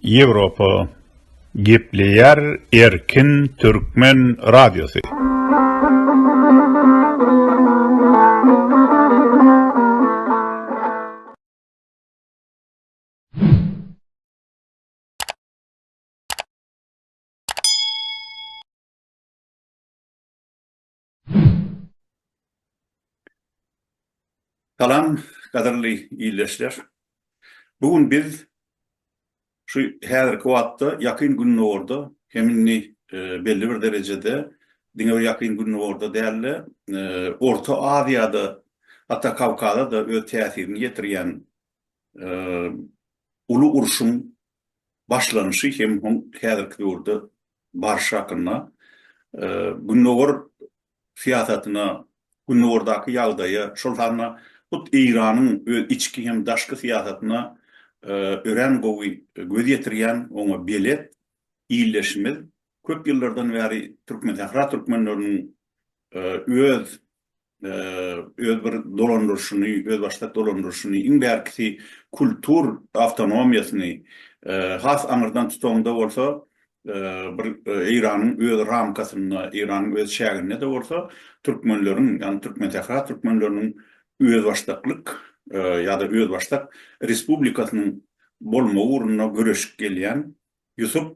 Ýewropa gepleýär erkin türkmen radiosy. Salam gadyrly ildeşler. Bu gün biz şu häzirki wagtda Ýakyn Gündogarda hem indi belli bir derejede diňe bir Ýakyn Gündogarda däl-de, Orta Aziýada, hatda Kawkaza-da öz täsirini ýetirýän uly urşuň başlanyşy hem hum häzirki döwürde barşy hakynda, Gündogar syýasatyna, Gündogardaky ýagdaýa, şol sanda hut Eýranyň öz içki hem daşky syýasatyna örän gowy göz ýetirýän, oňa belet ildeşimiz köp ýyllardan bäri Türkmensähra türkmenleriniň öz öz bir dolandyryşyny, özbaşdak dolandyryşyny, iň bärkisi kultur awtonomiýasyny has aňyrdan tutanda bolsa, bir Eýranyň öz ramkasynda, Eýranyň öz çäginde-de bolsa, türkmenleriň, ýagny türkmensähra türkmenleriniň özbaşdaklyk ýa-da özbaşdak respublikasynyň bolmagy ugrunda göreşip gelýän Ýusup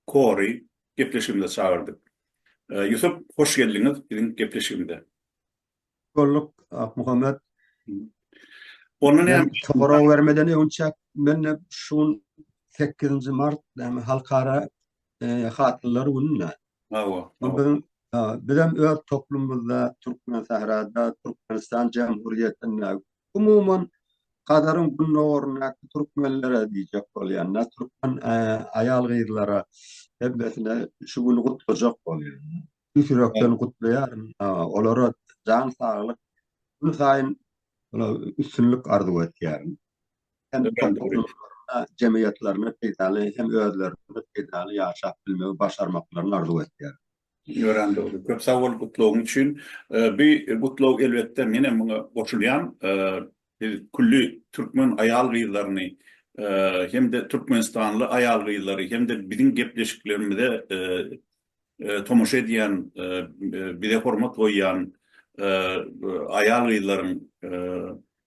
Kory gepleşigimize çagyrdyk. Ýusup hoş geldiňiz biziň gepleşigimize. Hoş bolduk Akmuhammet. Ondan hem sorag bermeden öňçäk men şu gün 8 mart yani halkara e, hatlylar gününe. Hawa. Biziň bizem öz toplumymyzda Türkmen Sahrada, Türkmenistan Cumhuriyetinde Umuman, Hazaryň gündogaryndaky türkmenlere diýjek bolýan-da, türkmen aýal-gyzlara hemmesine şu güni gutlajak bolýan. Tüýs ýürekden gutlaýaryn. Olara jan saglyk, gün saýyn üstünlik arzuw etýärin. Hem jemgyýetlerine peýdaly, hem özlerine peýdaly ýaşap bilmegi başarmaklaryny arzuw etýärin. Örän dogry. Köp sag bol gutlawyň üçin. Bu gutlag elbetde men hem muňa goşulýan. Biz külli türkmen aýal-gyzlaryny hem-de türkmenistanly aýal-gyzlary hem-de biziň gepleşiklerimize tomaşa edýän, bize hormat goýýan aýal-gyzlaryň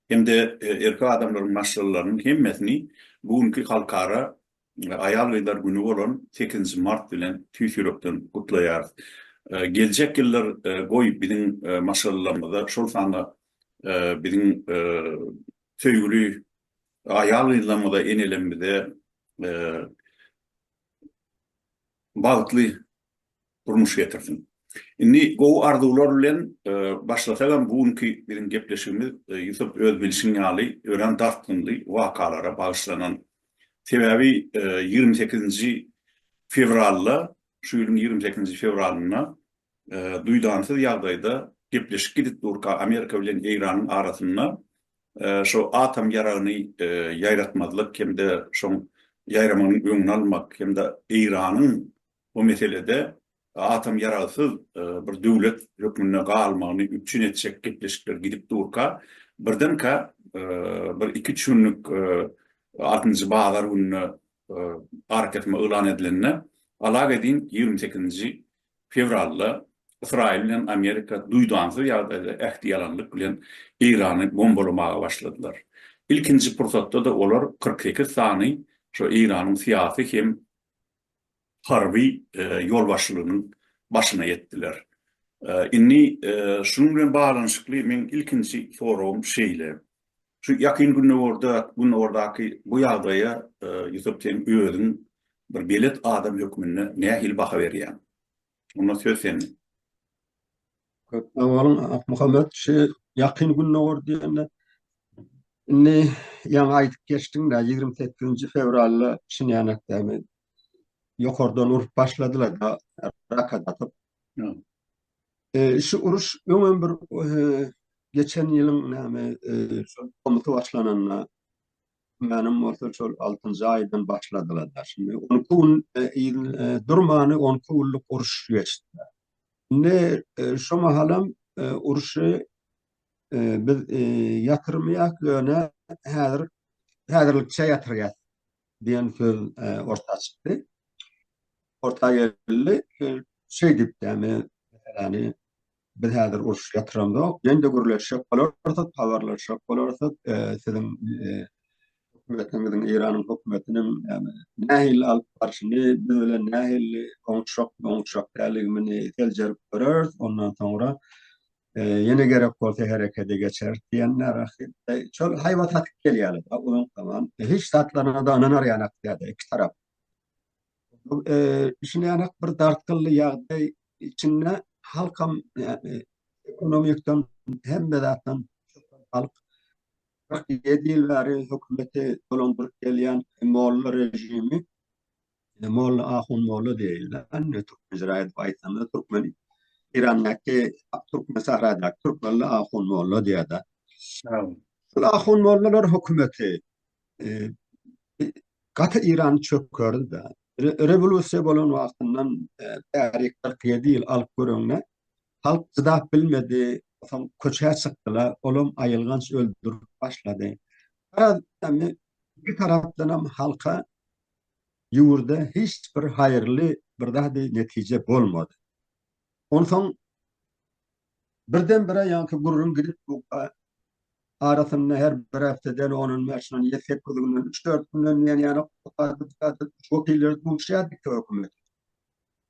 hem-de erkek adamlaryň maşgalalarynyň hemmesini bu günki halkara Aýal-gyzlar güni bolan sekizinji mart bilen tüýs ýürekden gutlaýarys. Geljek ýyllar goý biziň maşgalalarymyzda, şol sanda biziň söýgüli aýal-gyzlarymyza, enelerimize bagtly durmuş getirsin. Indi gowy arzuwlar bilen başlasagam bu günki biziň gepleşigimiz Ýusup öz bilşiň ýaly örän dartgynly wakalara bagyşlanan. Sebäbi ýigrimi sekizinji fewralda şu ýylyň ýigrimi sekizinji fewralynda duýdansyz ýagdaýda gepleşik gidip durka Amerika bilen Eýranyň arasynda şu atom ýaragyny ýaýratmazlyk hem-de şoň ýaýramagynyň öňüni almak hem-de Eýranyň bu meselede atom ýaragsyz bir döwlet hökmünde galmagyny üpjün etjek gepleşikler gidip durka, birdenkä bir iki-üç günlük altynjy bazar gününe arakesme yglan edilende, alaga edin ýigrimi sekizinji fewralda Ysraýyl bilen Amerika duýdansyz ýagdaýda ähtiýalanlyk bilen Eýrany bombalamaga başladylar. Ilkinji pursatda-da olar kyrk sekiz sany şo Eýranyň syýasy hem harby ýolbaşçylygynyň başyna ýetdiler. Indi şunuň bilen baglanyşykly meň ilkinji soragym şeýle, şu Ýakyn Gündogarda, Gündogardaky bu ýagdaýa Ýusup sen özüň bir belet adam hökmünde nähili baha berýäň? Onda söz sende. Köp sag boluň Akmuhammet. Şu ýakyn gündogar diýende indi ýaňy aýdyp geçdiň-dä, ýigrimi sekizinji fewralda Şinýanekdämi ýokardan urup başladylar-da, raket atyp. Şu uruş öňem bir geçen ýylyň näme, şol tomusy başlananda, Türkmenim bolsa şol altynjy aýdan başladylar. Şindi on iki gün e, e, durmany on iki günlük uruş geçdi. Indi e, şu mahalam uruşy biz ýatyrmaýak ýöne häzir häzirlikçe ýatyrýar diýen söz orta çykdy. Orta geldi. Şeýdip, yani, yani Biz häzir uruş ýatyramzok. Ýene-de gürleşjek bolarsyk, habarlaşjak bolarsyk. Siziň hökümetiňiziň, Eýranyň hökümetiniň nähili alyp barşyny, biz bilen nähili oňuşjak, oňuşjak däligimini seljerip göreris. Ondan soňra ýene gerek bolsa herekete geçeris diýen närahatlyk. Şol haýbat atyp gelýärler. Onuň tamam hiç zatlaryna-da ynanarýanak däl-de iki tarap. Düşünýänek bir dartgynly ýagdaý içinde halkam ekonomikdan hemme zatdan halk 47 ýyl bäri hökümeti dolandyryp gelýän molla režimi molla ahun molla diýildi. Anne türkmen jiraýat aýtanda türkmen Eýrandaky türkmen sahradak türkmenli ahun molla diýýärdi. Şol ahun mollalar hökümeti gaty Iran çökerdi. Rewolýusiýa bolan wagtyndan bäri 47 ýyl alyp göreňde halk çydap bilmedi, soň köçä çykdylar, olam aýylganç öldürip başlady. Garaz, indi iki tarapdanam halka ýurda hiç bir haýyrly bir zady netije bolmady. Onsoň birden-bire ýaňky gürrüň gidip bu arasynda her bir hepdeden on-on bäş on ýedi sekiz günden üç-dört günden diýen ýaly wekiller duşýardy hökümete.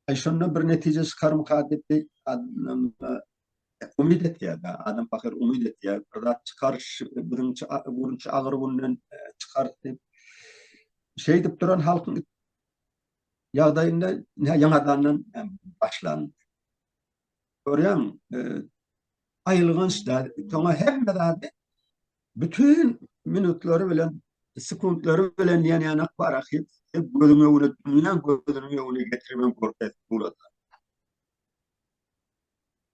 Aý şonda bir netije çykarmyka diýip umyt etýärdi. Adam pahyr umyt etýär. Bir zat çykar şu agyr günden çykar diýip. Şeýdip duran halkyň ýagdaýynda nä ýaňadandan başlan. Görýäň, aýylganç-da, soňa hemme zady bütin minutlary bilen, sekuntlary bilen ýanýanak bar ahyry, gözüň öňüne, dünýäň gözüniň öňüne getiribem görkezip bolaýsa.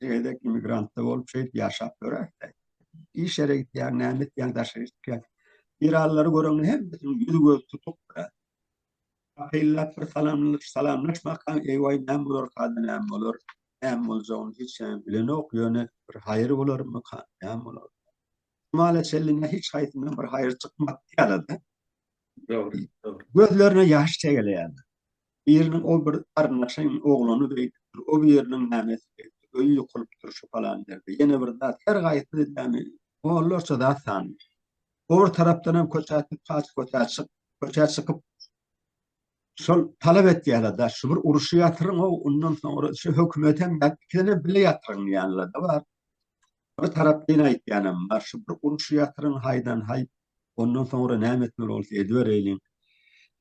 Siz gezek immigrantda bolup şeýdip ýaşap ýöräňizde. Iş ýere gitýäň, näme etýäň, daşary çykýaň. Irallary göreňde hemmesiniň ýüzi gözi tutuk durar. Akyllap bir salamlaş, salamlaşmakaň, eý-waý näme bolarkada, näme bolar, näme boljagyny hiç kim bilenok, ýöne bir haýyr bolarmyka, näme bolar. Şumala çenli nä hiç haýsyndan bir haýyr çykmapdy ýaly-da. Dogry, dogry. Gözlerine ýaş çegeleýärdi. Biriniň ol bir garyndaşyň oglany beýdipdir, o biriniň nämesi beýdipdir, öýi ýykylypdyr şu palan ýerde, ýene bir zat, her gaýsy näme, onlarça zat sanly. Obry tarapdanam köçä çyk, kaç köçä çyk, köçä çykyp, şol talap etýärler-dä, şu bir uruşy ýatyryň-ow, ondan soňra şu hökümetem ýatyr, ikidenem bile ýatyryň diýýänler-de bar. Bir tarapyn aýtýanam bar, şu bir uruşy ýatyryň haýdan-haý, Ondan soňra näme etmeli bolsa ediber eýliň.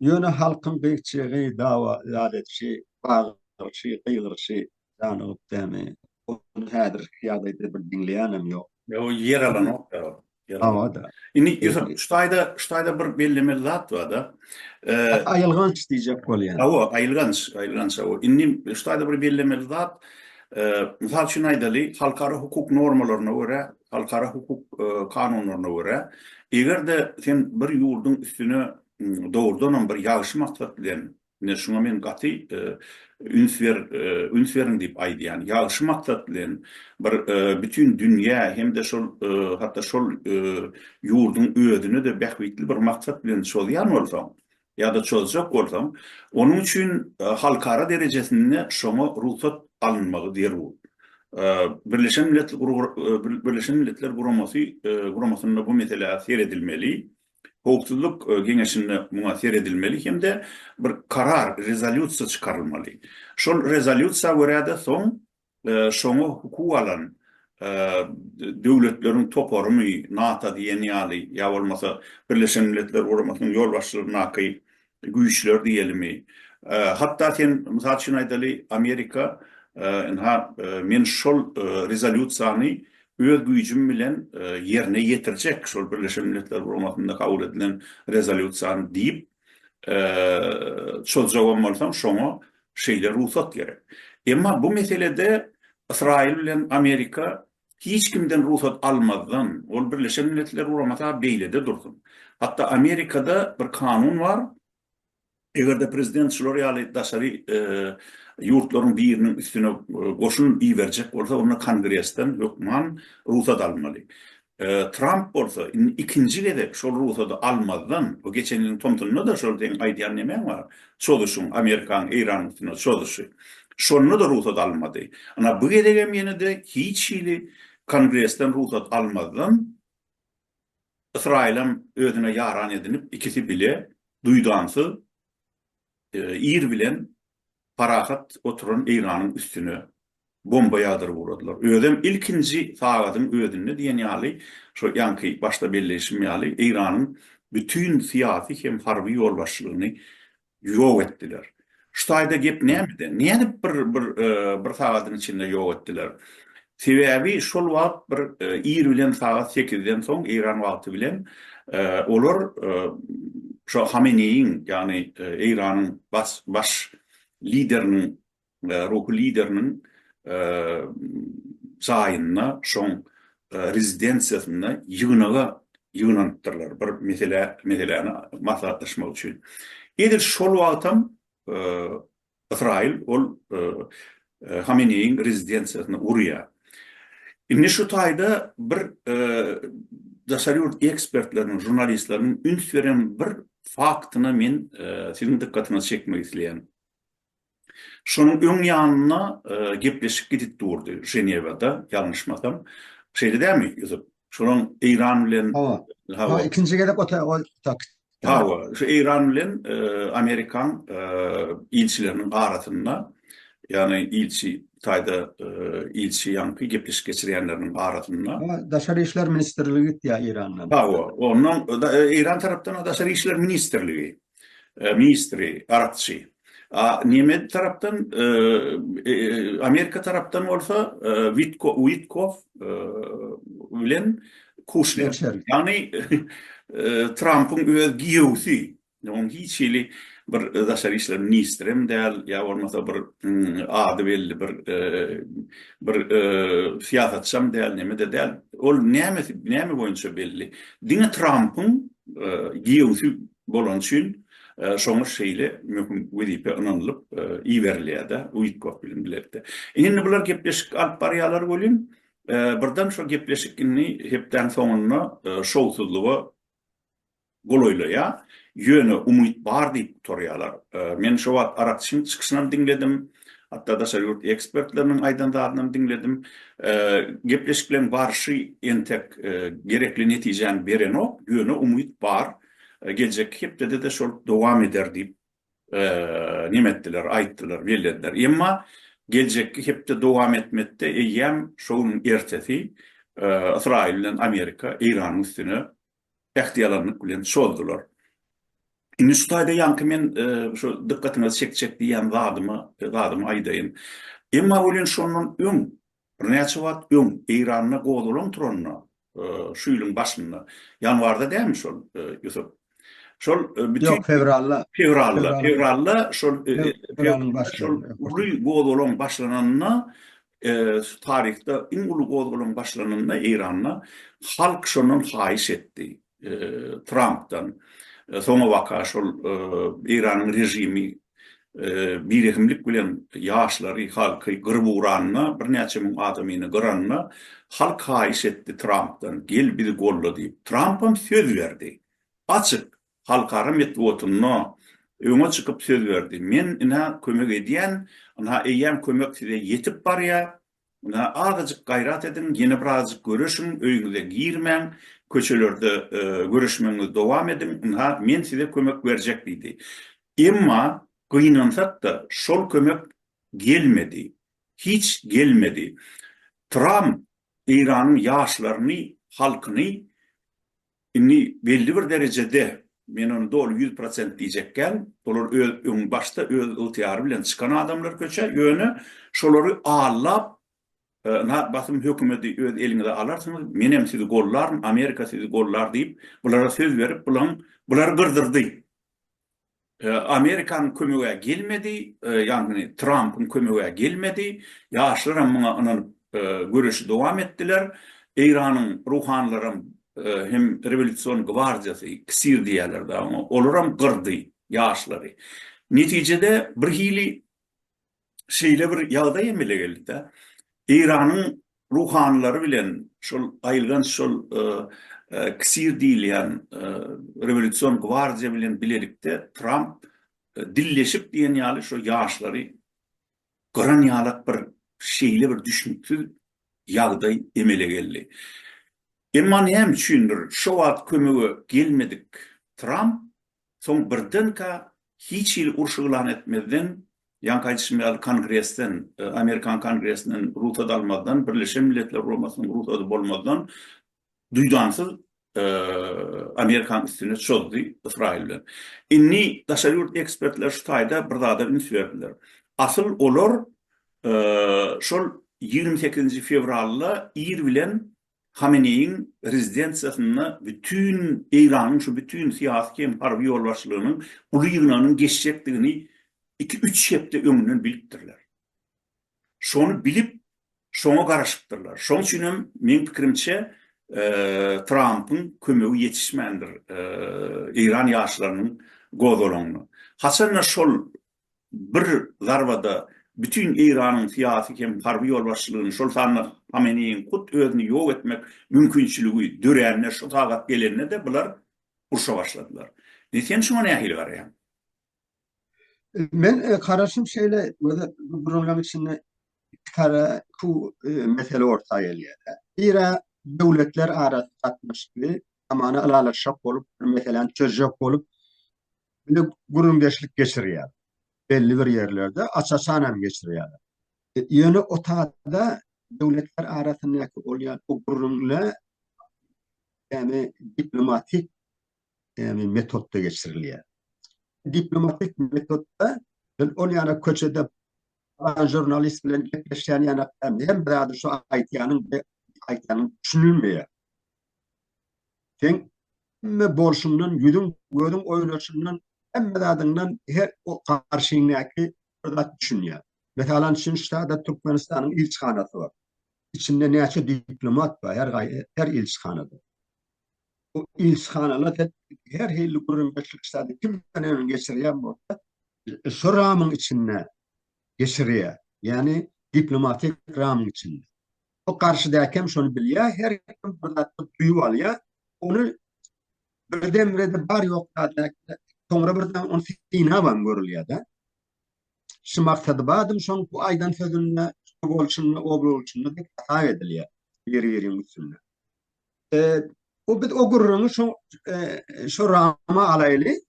Ýöne halkyň gyýkjygy, dawa ýat edişi, bagyryşy, gygyryşy janygyp dämi? Ony häzirki ýagdaýda bir diňleýänem ýok. Ýok, ýer alanok da ol. Hawa-da. Indi Ýusup, şu taýda, şu taýda bir bellemeli zat bar-da. Aýylganç diýjek bolýan. Hawa, aýylganç, aýylganç, hawa. Indi şu taýda bir bellemeli zat, mysal üçin aýdaly, halkara hukuk normalaryna görä, halkara hukuk kanunlaryna görä, eger-de sen bir ýurduň üstüne dogrudanam bir ýagşy maksat bilen, ine şuňa men gaty üns ber, üns beriň diýip aýdýan, ýagşy maksat bilen bir bütin dünýä hem-de şol hatda şol ýurduň özüne-de bähbitli bir maksat bilen çozýan bolsaň, ýa-da çözjek bolsaň, onuň üçin halkara derejesinde şoňa rugsat alynmagy zerur. Birleşen Milletler Guramasy Guramasynda bu meselä seredilmeli, Howpsuzlyk Geňeşinde muňa seredilmeli hem-de bir karar, rezolýusiýa çykarylmaly. Şol rezolýusiýa görä-de soň Şoňa hukugy alan döwletleriň toparymy, NATO diýen ýaly, ýa bolmasa Birleşen Milletler Guramasynyň ýolbaşçylygyndaky güýçler diýelimi, hatda sen, mysal üçin aýdaly, Amerika, ynha, men şol rezolýusiýany öz güýjüm bilen ýerine ýetirjek, şol Birleşen Milletler Guramasynda kabul edilen rezolýusiýany diýip, çozjagam bolsaň şoňa şeýle rugsat gerek. Emma bu meselede Ysraýyl bilen Amerika hiç kimden rugsat almazdan, ol Birleşen Milletler Guramata beýlede dursun. Hatda Amerikada bir kanun bar, eger-de prezident şular ýaly daşary ýurtlaryň biriniň üstüne goşun iberjek bolsa onda kongresden hökman rugsat almaly. Tramp bolsa indi ikinji gezek şol rugsady almazdan, bu geçen ýylyň tomsunda-da şol seň aýdýan nemäň bar, çozuşyň, Amerikanyň Eýranyň üstüne çozuşy. Şonda-da rugsat almady. Ynha bu gezegem ýene-de hiç hili Kongresden rugsat almazdan Ysraýylam özüne ýaran edinip ikisi bile duýdansyz ir bilen Parahat oturan eýranyň üstüne bomba ýagdyryp ugradylar. Özem ilkinji sagadyň özünde diýen ýaly, şo ýaňky başda belleýşim ýaly, Eýranyň bütin syýasy hem harby ýolbaşçylygyny ýok etdiler. Şu taýda gep nämede? Nädip bir bir sagadyň içinde ýok etdiler? Sebäbi şol wagt bir ir bilen sagat sekizden soň Eýran wagty bilen olar şo Hameneýiň, ýagny Eýranyň baş lideriniň, ruhy lideriniň jaýynda, şoň rezidensiýasynda ýygnaga ýygnanypdyrlar, bir meseläni maslahatlaşmak üçin. Edil şol wagtam Ysraýyl ol Hameneýiň rezidensiýasyna urýar. Indi şu taýda bir daşary ýurt ekspertleriniň, žurnalistleriniň üns beren bir faktyna men siziň dykgatyňyzy çekmek isleýän. Şonuň öň ýanynda gepleşik gidip durdy Ženewada, ýalňyşmasam. Şeýle dälmi, Ýusup? Şonuň Eýran bilen. Hawa. Hawa, ikinji gezek otag, otag. Hawa, şu Eýran bilen Amerikan ilçileriniň arasynda, ýagny ilçi Hytaýda ilçi ýaňky gepleşik geçirýänleriniň arasynda. Daşary işler ministrligi gitýär Eýrandan. Hawa, ondan Eýran tarapdan Daşary işler ministrligi ministri, arapçy. A Nemed tarapdan, Amerika tarapdan bolsa Witkow bilen Kuşner. Ýagny Trampyň öz giýewsi, onuň hiç hili bir daşary işler ministri hem däl, ýa bolmasa bir ady belli bir bir syýasatçy hem däl, neme-de däl. Ol nämesi, näme boýunça belli? Diňe Trampyň giýewsi Bolany üçin, şoňa şeýle möhüm wezipe ynanylyp iberilýär-de, Uýtkok bilen bilelikde. Indi bular gepleşik alyp barýarlar welin, birden şo gepleşik indi hepdäň soňunda şowsuzlyga golaýlaýar. Ýöne umyt bar diýip gutarýarlar. Men şo wagt Arakçyň çykyşynam diňledim, hatda daşary ýurt ekspertleriniň aýdan zadynam diňledim. Gepleşikleriň barşy entek gerekli netijäni berenok, ýöne umyt bar. Geljekki hepdede-de şol dowam eder diýip, neme etdiler, aýtdylar, bellediler. Emma geljekki hepde dowam etmekde eýýäm şo günüň ertesi Ysraýyl bilen Amerika Eýranyň üstüne ähtiýalanlyk bilen çozdular. Indi şu taýda ýaňky men şu dykgatyňyzy çekjek diýýän zadymy aýdaýyn. Emma welin şondan öň Birnäçe wagt öň Eýranda gozgalaň turanda, şu ýylyň başynda, ýanwarda dälmi şol, Ýusup? Şol bütin Ýok, fewralda. Fewralda, fewralda şol şol uly gozgalaň başlananda, taryhda iň uly gozgalaň başlananda Eýranda halk şondan haýyş etdi. Trampdan soňabaka şol Eýranyň režimi birehimlik bilen ýaşlary, halky gyryp ugranyna, birnäçe müň adamyny gyranyna halk haýyş etdi Trampdan, gel bizi golla diýip. Trampam söz berdi. Açyk halkara metbugatynda öňe çykyp söz berdi. Men ine kömek edýän, ynha eýýäm kömek size ýetip barýar, Ynha, azajyk gaýrat ediň, ýene bir azajyk göreşiň, öýüňize girmäň, köçelerde göreşmegiňizi dowam ediň, ynha, men size kömek berjek diýdi. Emma gynansak-da, şol kömek gelmedi. Hiç gelmedi. Tramp Eýranyň ýaşlaryny, halkyny Indi belli bir derejede, men ony doly ýüz prosent diýjek däl, olar öz öň başda öz ygtyýary bilen çykan adamlar köçä, ýöne şolary allap, ynha basym hökümedi öz eliňize alarsyňyz, menem sizi gollaryn, Amerika sizi gollar diýip, bulara söz berip, bulaň bulary gyrdyrdy. Amerikanyň kömege gelmedi, ýagny Trampyň kömege gelmedi. Ýaşlar hem muňa ynanyp, göreşi dowam etdiler. Eýranyň ruhanylaram hem rewolýusion gwardiýasy, ksir diýýärler däl oňa, olaram gyrdy ýaşlary. Netijede birhili şeýle bir ýagdaý emele geldi-de, Eýranyň ruhanylary bilen şol aýylganç şol KSIR diýilýän rewolýusion gwardiýa bilen bilelikde Tramp dilleşip diýen ýaly şo ýaşlary gyran ýalak bir şeýle bir düşnüksiz ýagdaý emele geldi. Emma näme üçindir şo wagt kömege gelmedik Tramp Soň birdenkä hiç hili uruş yglan etmezden, ýaňky aýdyşym ýaly Kongresden, Amerikan Kongresinden rugsat almazdan, Birleşen Milletler Guramasynyň rugsady bolmazdan duýdansyz Amerikanyň üstüne çozdy Ysraýyl bilen. Indi daşary ýurt ekspertleri şu taýda bir zada üns berdiler. Asyl olar şol ýigrimi sekizinji fewralda ir bilen Hameneýiň rezidensiýasynda bütin Eýranyň şu bütin syýasy hem harby ýolbaşçylygynyň uly ýygnagynyň geçjekdigini iki-üç hepde öňünden bilipdirler. Şony bilip, şoňa garaşypdyrlar. Şoň üçin hem, meň pikirimçe, Trampyň kömegi ýetişmändir eýran ýaşlarynyň gozgalaňyna. Haçan-da şol bir zarbada bütin Eýranyň syýasy hem harby ýolbaşçylygyny, şol sanda Hameneýiň hut özüni ýok etmek mümkinçiligi dörände, şu sagat gelende-de bular urşa başladylar. Indi sen şuňa nähili garaýaň? Men garaşym şeýle, özü bu programma içinde iki tara ku mesele orta gelýär. Biri döwletler arasy gatnaşygy, amana ylalaşjak bolup, bir meseläni çözjek bolup, Bile gürrüňdeşlik geçirýär. Belli bir ýerlerde aç-açan hem geçirýärler. E, ýöne o taýda döwletler arasyndaky bolýan bu gürrüňler ýagny diplomatik ýagny metodda geçirilýär. Diplomatik metodda sen ol ýana köçede alan jurnalist bilen gepleşýän ýana hem bir ady şu aýtýanyň aýtýanyň düşünilmeýär. Seň hemme bolşuňdan, ýüzüň, gözüň oýnaşyndan, hemme zadyňdan her o garşyňdäki bir zat düşünýär. Mesalan üçin, şu sada Türkmenistanyň ilçihanasy bar. Içinde näçe diplomat bar, her gaý her ilçihanada. Bu ilçihanalar sen her hili gürrüňdeşlik zady kim bilen hem geçirýän bolsa, şu ramyň içinde geçirýär. Ýagny diplomatik ramyň içinde. O garşydakem şony bilýär, her kim bir zat duýup alýar. Ony birdemrede bar ýok zatlaýar. Soňra birden ony synabam görülýär-de. Şu maksady badym şoň bu aýdan sözünde, bu bolşunda, o bolşunda diýip hasap edilýär biri-biriň üstünde. E, o biz o gürrüňi şo e, şo rama alaýly.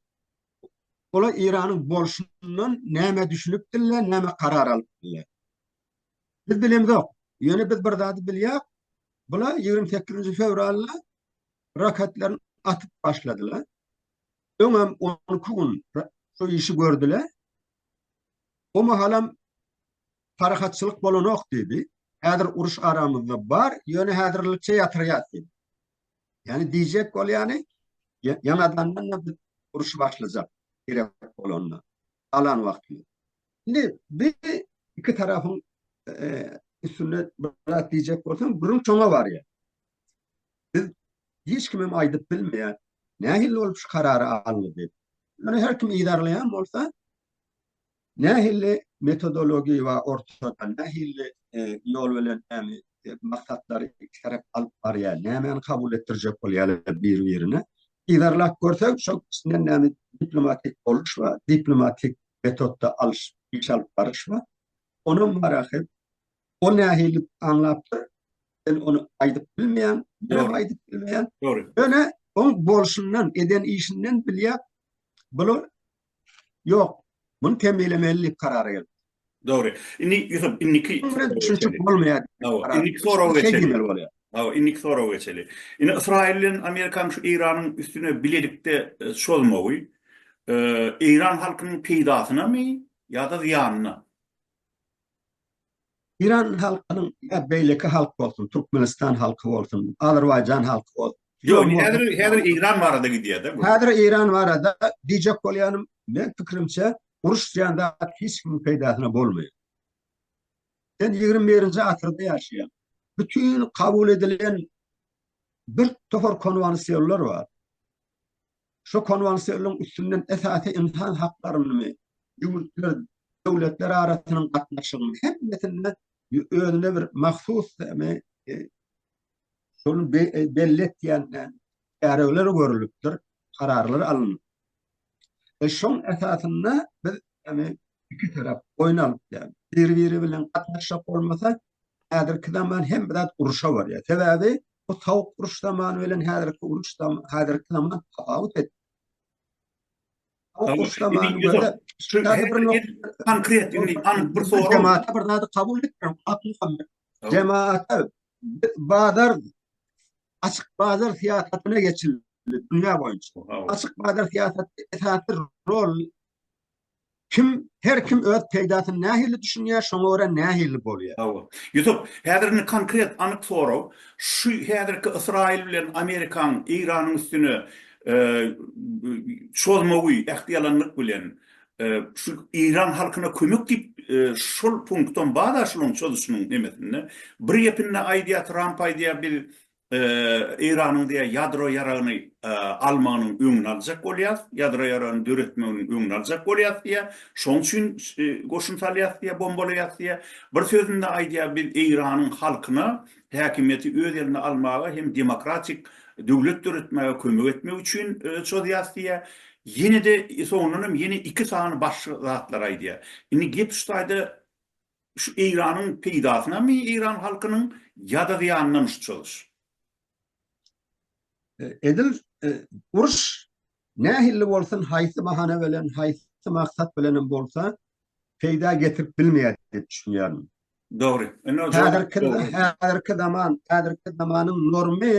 Olar Iranyň bolşundan näme düşünipdirler, näme karar alypdyrlar. Biz bilemzok. Ýöne biz bir zady bilýäs. Bular ýigrimi sekizinji fewralda raketlerini atyp başladylar. Öňem on iki gün şu işi gördüler. O mahalam parahatçylyk bolanok diýdi. Häzir uruş aramyzda bar, ýöne häzirlikçe ýatyrýas diýdi. Ýani diýjek bolýany, ýaňadandan-da biz uruşy başlajak gerek bolanda, galan wagtymyz. Indi bir iki tarafyň e, üstünde bir zat diýjek bolsam, gürrüň çoňa barýar. Biz hiç kimim aýdyp bilmeýär. Nähili bolup şu karary aldy diýip. Ýöne her kim yzarlaýan bolsa, nähili metodologiýa we ortada nähili e, ýol bilen näme e, maksatlary iki tarap alyp barýar, nämäni kabul etdirjek bolýarlar bir-birine. Yzarlap görsek, şol içinden näme diplomatik boluş we diplomatik metotda alyş, iş alyp baryş bar. Onam marahy, o nähili aňlapdyr, men ony aýdyp bilmeýän, bilenem aýdyp bilmeýän. Dogry. Ýöne oň bolşundan, eden işinden bilýär, bular ýok, muny temmilemeli diýip karara gelip. Dogry. Indi Ýusup, indiki Munuň bilen düşünişip bolmaýar. Hawa, indiki soraga geçelim. Şeýdemeli bolýar. Hawa, indiki soraga geçeli. Indi Ysraýyl bilen Amerikanyň şu Eýranyň üstüne bilelikde çozmagy eýran halkynyň peýdasynamy ýa-da zyýanyna? Eýran halkynyň ýa beýleki halk bolsun, Türkmenistan halky bolsun, Azerbaýjan halky bolsun. Ýok, indi häzir häzir Eýran barada gidýär-de bu. Häzir Eýran barada diýjek bolýanym, meň pikirimçe, uruş diýen zat hiç kimiň peýdasyna bolmaýar. Sen ýigrimi birinji asyrda ýaşaýaň. Bütin kabul edilen bir topar konwansiýonlar bar. Şu konwansiýonlaryň üstünden esasy ynsan haklaryny, ýurtlar, döwletler arasynyň gatnaşygyny hemmesinde özüne bir mahsus me, e, şol be, e, belli etýän e, çäreler görülipdir, kararlar alnypdyr. E şoň esasynda biz ýagny iki tarap oýun alyp biler. Bir-biri bilen gatnaşyk bolmasa, häzirki zaman hem biraz uruşa barýar. Sebäbi bu sowuk uruş zamany bilen häzirki uruş zaman, häzirki zaman tapawut et. Sowuk uruş zamany görse, şu konkret, indi anyk bir soraw. Jemaata bir zady kabul etmiň, Akmuhammet. Jemaata bazar açyk bazar syýasatyna geçildi dünýä boýunça. Açyk bazar syýasaty esasy rol kim her kim öz peýdasyny nähili düşünýär, şoňa görä nähili bolýar. Hawa. Ýusup, häzir indi konkret anyk sorag, şu häzirki Ysraýyl bilen Amerikanyň Eýranyň üstüne e, çozmagy, ähtiýalanlyk bilen Şu Eýran halkyna kömek diýip, şol punktam bar-a şunuň çözüşiniň nemesinde. Bir gepinde aýdýar, Tramp aýdýar, biz Eýranyň diýýär, ýadro ýaragyny almagynyň öňüni aljak bolýarys, ýadro ýaragyny döretmeginiň öňüni aljak bolýarys diýýär. Şonuň üçin goşun salýarys diýýär, bombalaýarys diýýär. Bir sözünde aýdýar, biz Eýranyň halkyna häkimiýeti öz eline almaga hem demokratik döwlet döretmäge kömek etmek üçin çozýas diýýär. Ýene-de soňundan hem ýene iki sany başga zatlary aýdýar. Indi gep şu taýda şu Eýranyň peýdasynamy Eýran halkynyň ýa-da zyýanynamy şu çozuş? Edil uruş Nähilli bolsun, haýsy bahana bilen, haýsy maksat bilenem bolsa, peýda getirip bilmeýär diýip düşünýärin. Dogry. Indi ol jogap dogry. Häzirki zaman, häzirki zamanyň normy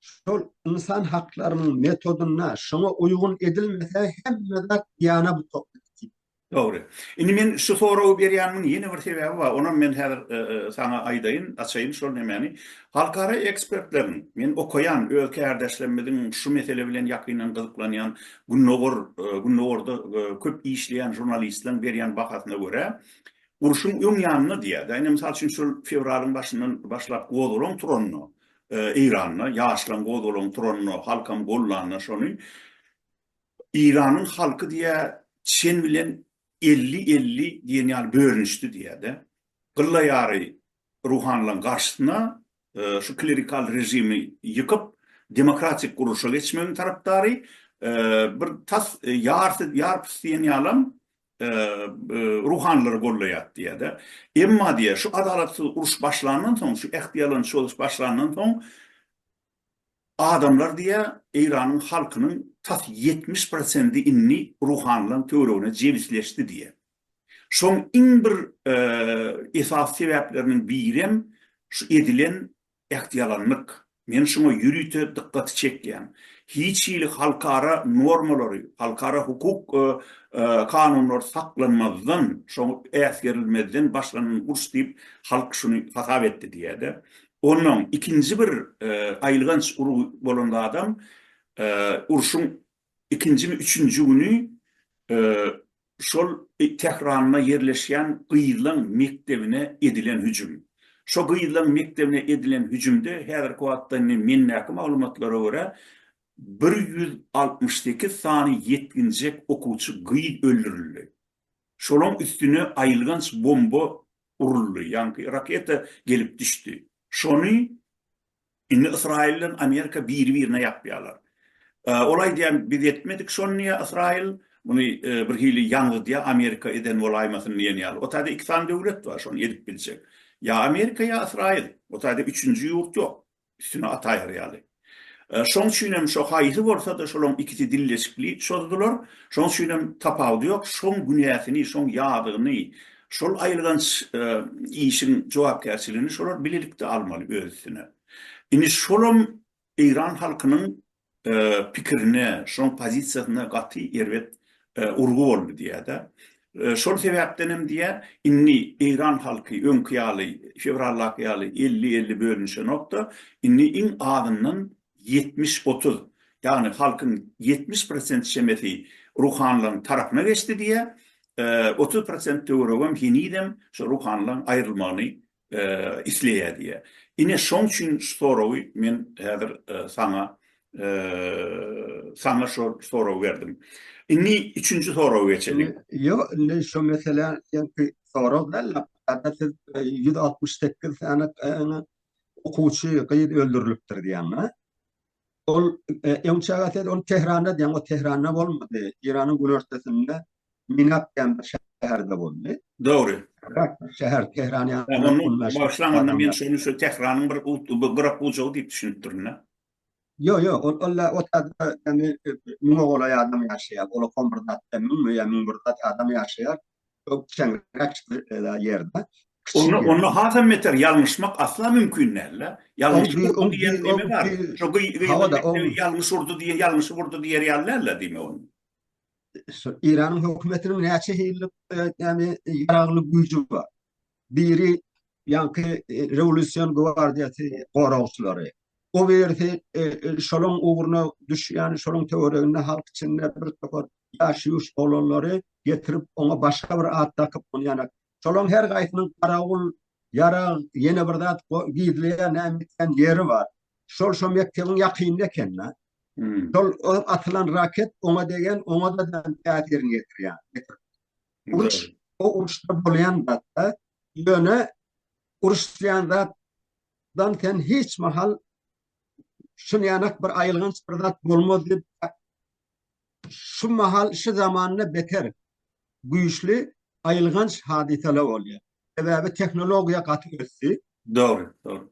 şol ynsan haklarynyň metodynda şoňa uýgun edilmese hemme zat ýana butaka diýip Dogry. Indi men şu soragy berýänimiň ýene bir sebäbi bar. Onam men häzir saňa aýdaýyn, açaýyn şol nemäni. Halkara ekspertleriň, men okaýan, öz kärdeşlerimiziň şu mesele bilen ýakyndan gyzyklanýan Gündogar, Gündogarda köp işleýän žurnalistleriň berýän bahasyna görä, urşuň öň ýanynda diýýärdi. Ine, mysal üçin, şol fewralyň başyndan başlap gozgalaň turanda, Eýranda, ýaşlaň gozgalaň turanda, halkam goldanda şony, Iranyň halky diýýär, çen bilen elli elli diýen ýaly bölünişdi diýýär-de. Gylla ýary ruhanylaryň garşysyna şu klerikal režimi ýykyp, demokratik gurluşa geçmegiň tarapdary, bir tas ýarsy ýarpys diýen ýalam ruhanylary gollaýar diýýär-de. Emma diýýär, şu adalatsyz uruş başlandan soň, şu ähtiýalançy ýozuş başlandan soň, Adamlar diýýär, Eýranyň halkynyň tas ýetmiş prosendi indi ruhanylaryň töweregine jebisleşdi diýýär. Şoň iň bir esasy sebäpleriniň birem şu edilen ähtyalanlyk. Men şuňa ýörite dykgaty çekýän. Hiç hili halkara normalary, halkara hukuk kanunlary saklanmazdan, şoňa äsgerilmezden başlanan uruş diýip, halk şuny hasap etdi diýýär-de. Onnoň ikinji bir aýylganç urgy bolan zadam urşuň ikinjimi üçünji güni şol Tähranda ýerleşýän gyzlaň mekdebine edilen hüjüm. Şo gyzlaň mekdebine edilen hüjümde häzirki wagtda indi mendäki maglumatlara görä bir ýüz altmyş sekiz sany ýetginjek okuwçy gyz öldürildi. Şolaň üstüne aýylganç bomba uruldy, ýaňky raketa gelip düşdi. Şony indi Ysraýyl bilen Amerika biri-birine ýapýarlar. Ol aýdýar, biz etmedik şony diýýär Ysraýyl, muny birhili ýaňzydýar, Amerika eden bolaýmasyn diýen ýaly. O taýda iki sany döwlet bar şony edip biljek. Ýa Amerika, ýa Ysraýyl. O taýda üçünji ýurt ýok. üstüne ataýar ýaly. Şoň üçin hem şo haýsy bolsa-da şolaň ikisi dilleşikli çozdular. Şoň üçin hem tapawudy ýok. Şoň günäsini, şoň ýazygyny, şol aýylganç işiň jogapkärçiligini şolar bilelikde almaly öz üstüne. Indi şolam eýran halkynyň pikirine, şoň pozisiýasyna gaty erbet urgy boldy diýýär-de. Şol sebäpden hem diýýär, indi eýran halky öňki ýaly, fewraldaky ýaly elli-elli bölünişenok-da, indi iň azyndan ýetmiş-otuz, ýagny halkyň ýetmiş prosent çemesi ruhanylaryň tarapyna geçdi diýýär, otuz prosent töweregem henizem şu ruhanylaryň aýrylmagyny isleýär diýýär. Ine, şoň üçin şu soragy men häzir saňa saňa şo soragy berdim. Indi üçünji soraga geçeliň. Ýo, indi şo meselä ýenki sorag däl-de, hatda siz ýüz altmyş sekiz sany okuwçy gyz öldürilipdir diýýäň-a? Ol öňçäge ses ol Tehranda diýen, o Tehranda bolmady. Eýranyň günortasynda Minap diýen bir şäherde boldy. Dogry. Şäher Tehran ýaly. Başlangyna men şony şu Tehranyň bir gyrak gujagy diýip düşünipdirin-dä. Ýok, ýok, ol ol otagda ýagny müňe golaý adam ýaşaýar. Ola kom bir zat, müňmi ýa müň bir zat adam ýaşaýar. Onda onda hasam beter ýalňyşmak asla mümkin däl-de. Ýalňyşyp urdy diýen neme bar? Şo ýalňyş urdy diýen ýalňyşyp urdy diýer ýaly däl-de diýmek ol. Eýranyň hökümetiniň näçe hillik näme ýaragly güýji bar? Biri ýaňky rewolýusion gwardiýasy goragçylary. O birisi şolaň ugruna düşýän, şolaň töwereginde halk içinde bir topar ýaş-ýuş oglanlary getirip, oňa başga bir at dakyp, ony ýanak. Şolaň her gaýsynyň garawul, ýarag, ýene bir zat gizleýän näme etýän ýeri bar. Şol şo mekdebiň ýakynynda eken-dä. Şol atylan raket oňa degen, oňa-da täsirini ýetirýär. Uruş, o uruşda bolýan zatda, ýöne uruşýan zatdan sen hiç mahal şun ýanak bir aýylganç bir zat bolmaz diýip, şu mahal, şu zamanda beter güýçli aýylganç hadysalar bolýar. Sebäbi tehnologiýa gaty ösdi. Dogry, dogry.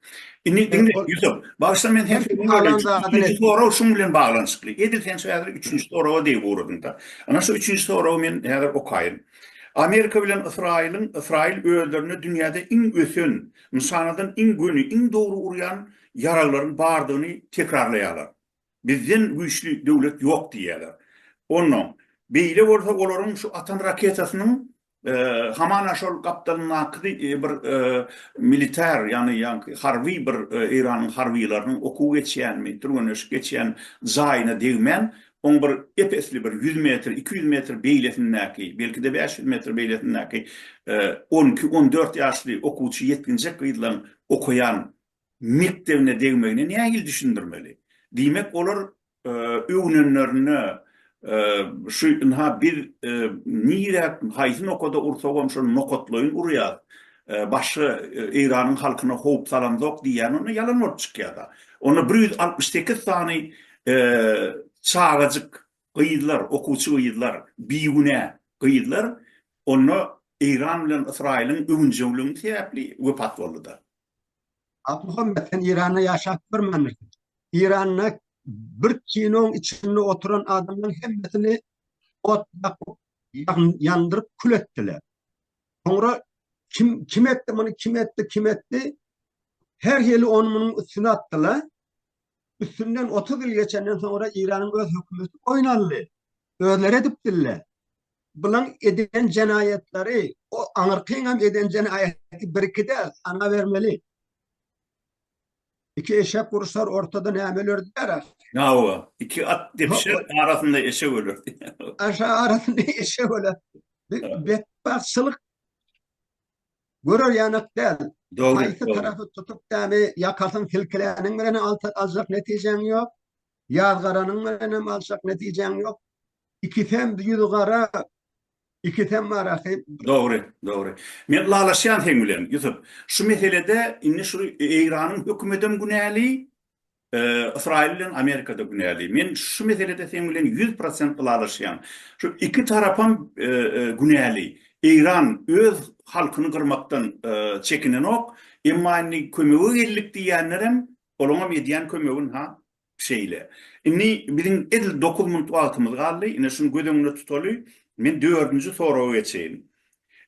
Indi diňle, Ýusup, bagyşla men seni sözüňi bölýän. Üçünji sorag şuň bilen baglanyşykly. Edil sen şu häzir üçünji soraga degip ugradyň-da. Ana şu üçünji soragy men häzir okaýyn. Amerika bilen Ysraýylyň, Ysraýyl özlerine dünýäde iň ösen, nyşanadan iň göni, iň dogry urýan ýaraglaryň bardygyny tekrarlaýarlar. Bizden güýçli döwlet ýok diýýärler. Onnoň, beýle bolsa olaryň şu atan raketasynyň hamana şol gapdalyndaky bir militar, ýagny harby bir Eýranyň harbylarynyň okuw geçýänmi, türgenleşik geçýän jaýyna degmän, oň bir ep-esli bir ýüz metr, iki ýüz metr beýlesindäki, belki-de bäş ýüz metr beýlesindäki on iki, on dört ýaşly okuwçy ýetginjek gyzlaryň okaýan mekdebine degmegine nähili düşündirmeli? Diýmek, olar öwünenlerinde şu ynha biz nire, haýsy nokada ursagam şol nokatlaýyn urýarys, başga Eýranyň halkyna howp salamzok diýýän onda ýalan bolup çykýar-da. Onda bir ýüz altmyş sekiz sany çagajyk, gyzlar, okuwçy gyzlar, bigünä gyzlar onda Eýran bilen Ysraýylyň öwünjeňligi sebäpli wepat boldy-da. Abduhammet sen Iranda ýaşap görmändirsiň. Iranda bir kinoň içinde oturan adamlaryň hemmesini ot ýakyp, ýandyryp kül etdiler. Soňra kim kim etdi muny, kim etdi, kim etdi? Her hili ony munyň üstüne atdylar. Üstünden 30 ýyl geçenden soňra Iranyň öz hökümeti boýun aldy. Özleri edip diller. Bulan eden jenaýatlary o aňyrkyňam eden jenaýaty bir iki däl sana bermeli. Iki eşek uruşar ortada näme ölerdiler ahy. Hawa iki at depişer arasynda eşek ölerdi. Aşa arasynda eşek öler. Bir betbagtçylyk görer ýanak däl. Dogry. Haýsy tarapy tutup dämi ýakasyn silkiläniň bilen aljak netijäň ýok. Ýazgaranyň bilenem aljak netijäň ýok. Ikisem ýüzi gara, ikisem marahy. Dogry, dogry. Men ylalaşýan seň bilen, Ýusup. Şu meselede indi şu Eýranyň hökümetem günäli, Ysraýyl bilen Amerikada günäli. Men şu meselede seň bilen ýüz prosent ylalaşýan. Şu iki tarapam günäli. Eýran öz halkyny gyrmakdan çekinenok, emma indi kömege geldik diýýänlerem, olaňam edýän kömegin-ha, Şeýle. Indi biziň edil dokuz minut wagtymyz galdy. Ine, şuny göz öňünde tutaly. Men dördünji soraga geçeýin.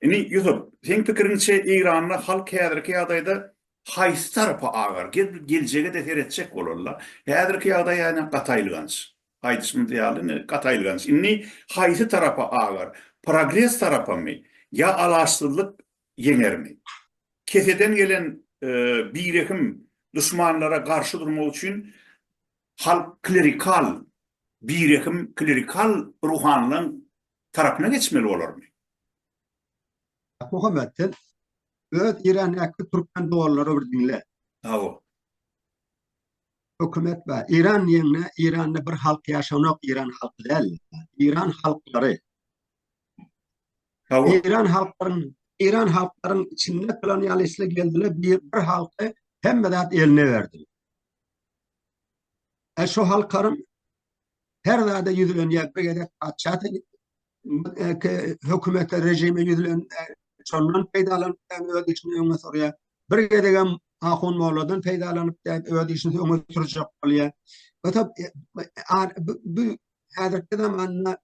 Indi, Ýusup, seň pikiriňçe, Eýranda halk häzirki ýagdaýda haýsy tarapa agar? Gel, geljege-de seretjek bolal-la. Häzirki ýagdaý ýa-da gaty aýylganç. Aýdyşymyz ýaly, indi gaty aýylganç. Indi haýsy tarapa agar? Progres tarapamy ýa alaçsyzlyk ýeňermi? Keseden gelen birehim duşmanlara garşy durmak üçin halk klerikal, birehim klerikal ruhanylaň tarapyna geçmeli bolarmy? Muhammet, sen öz Irandäki türkmen doganlary bir diňle. Hawa. Hökümet bar. Iran diýende Iranda bir halk ýaşanok, Iran halky däl. Iran halklary. Eýran halklaryň Eýran halklaryň içinde kolonialistler geldiler, bir, bir halky hemme zat eline berdi. E şu halkarym her zada yüzülen ya bir gezek paçat e, hükümete rejime yüzülen e, şondan peýdalanyp öz işini öňe sürýär. Bir gezek hem Ahun Molladan peýdalanyp öz işini öňe sürjek bolýar. Ota e, bu häzirki zamanda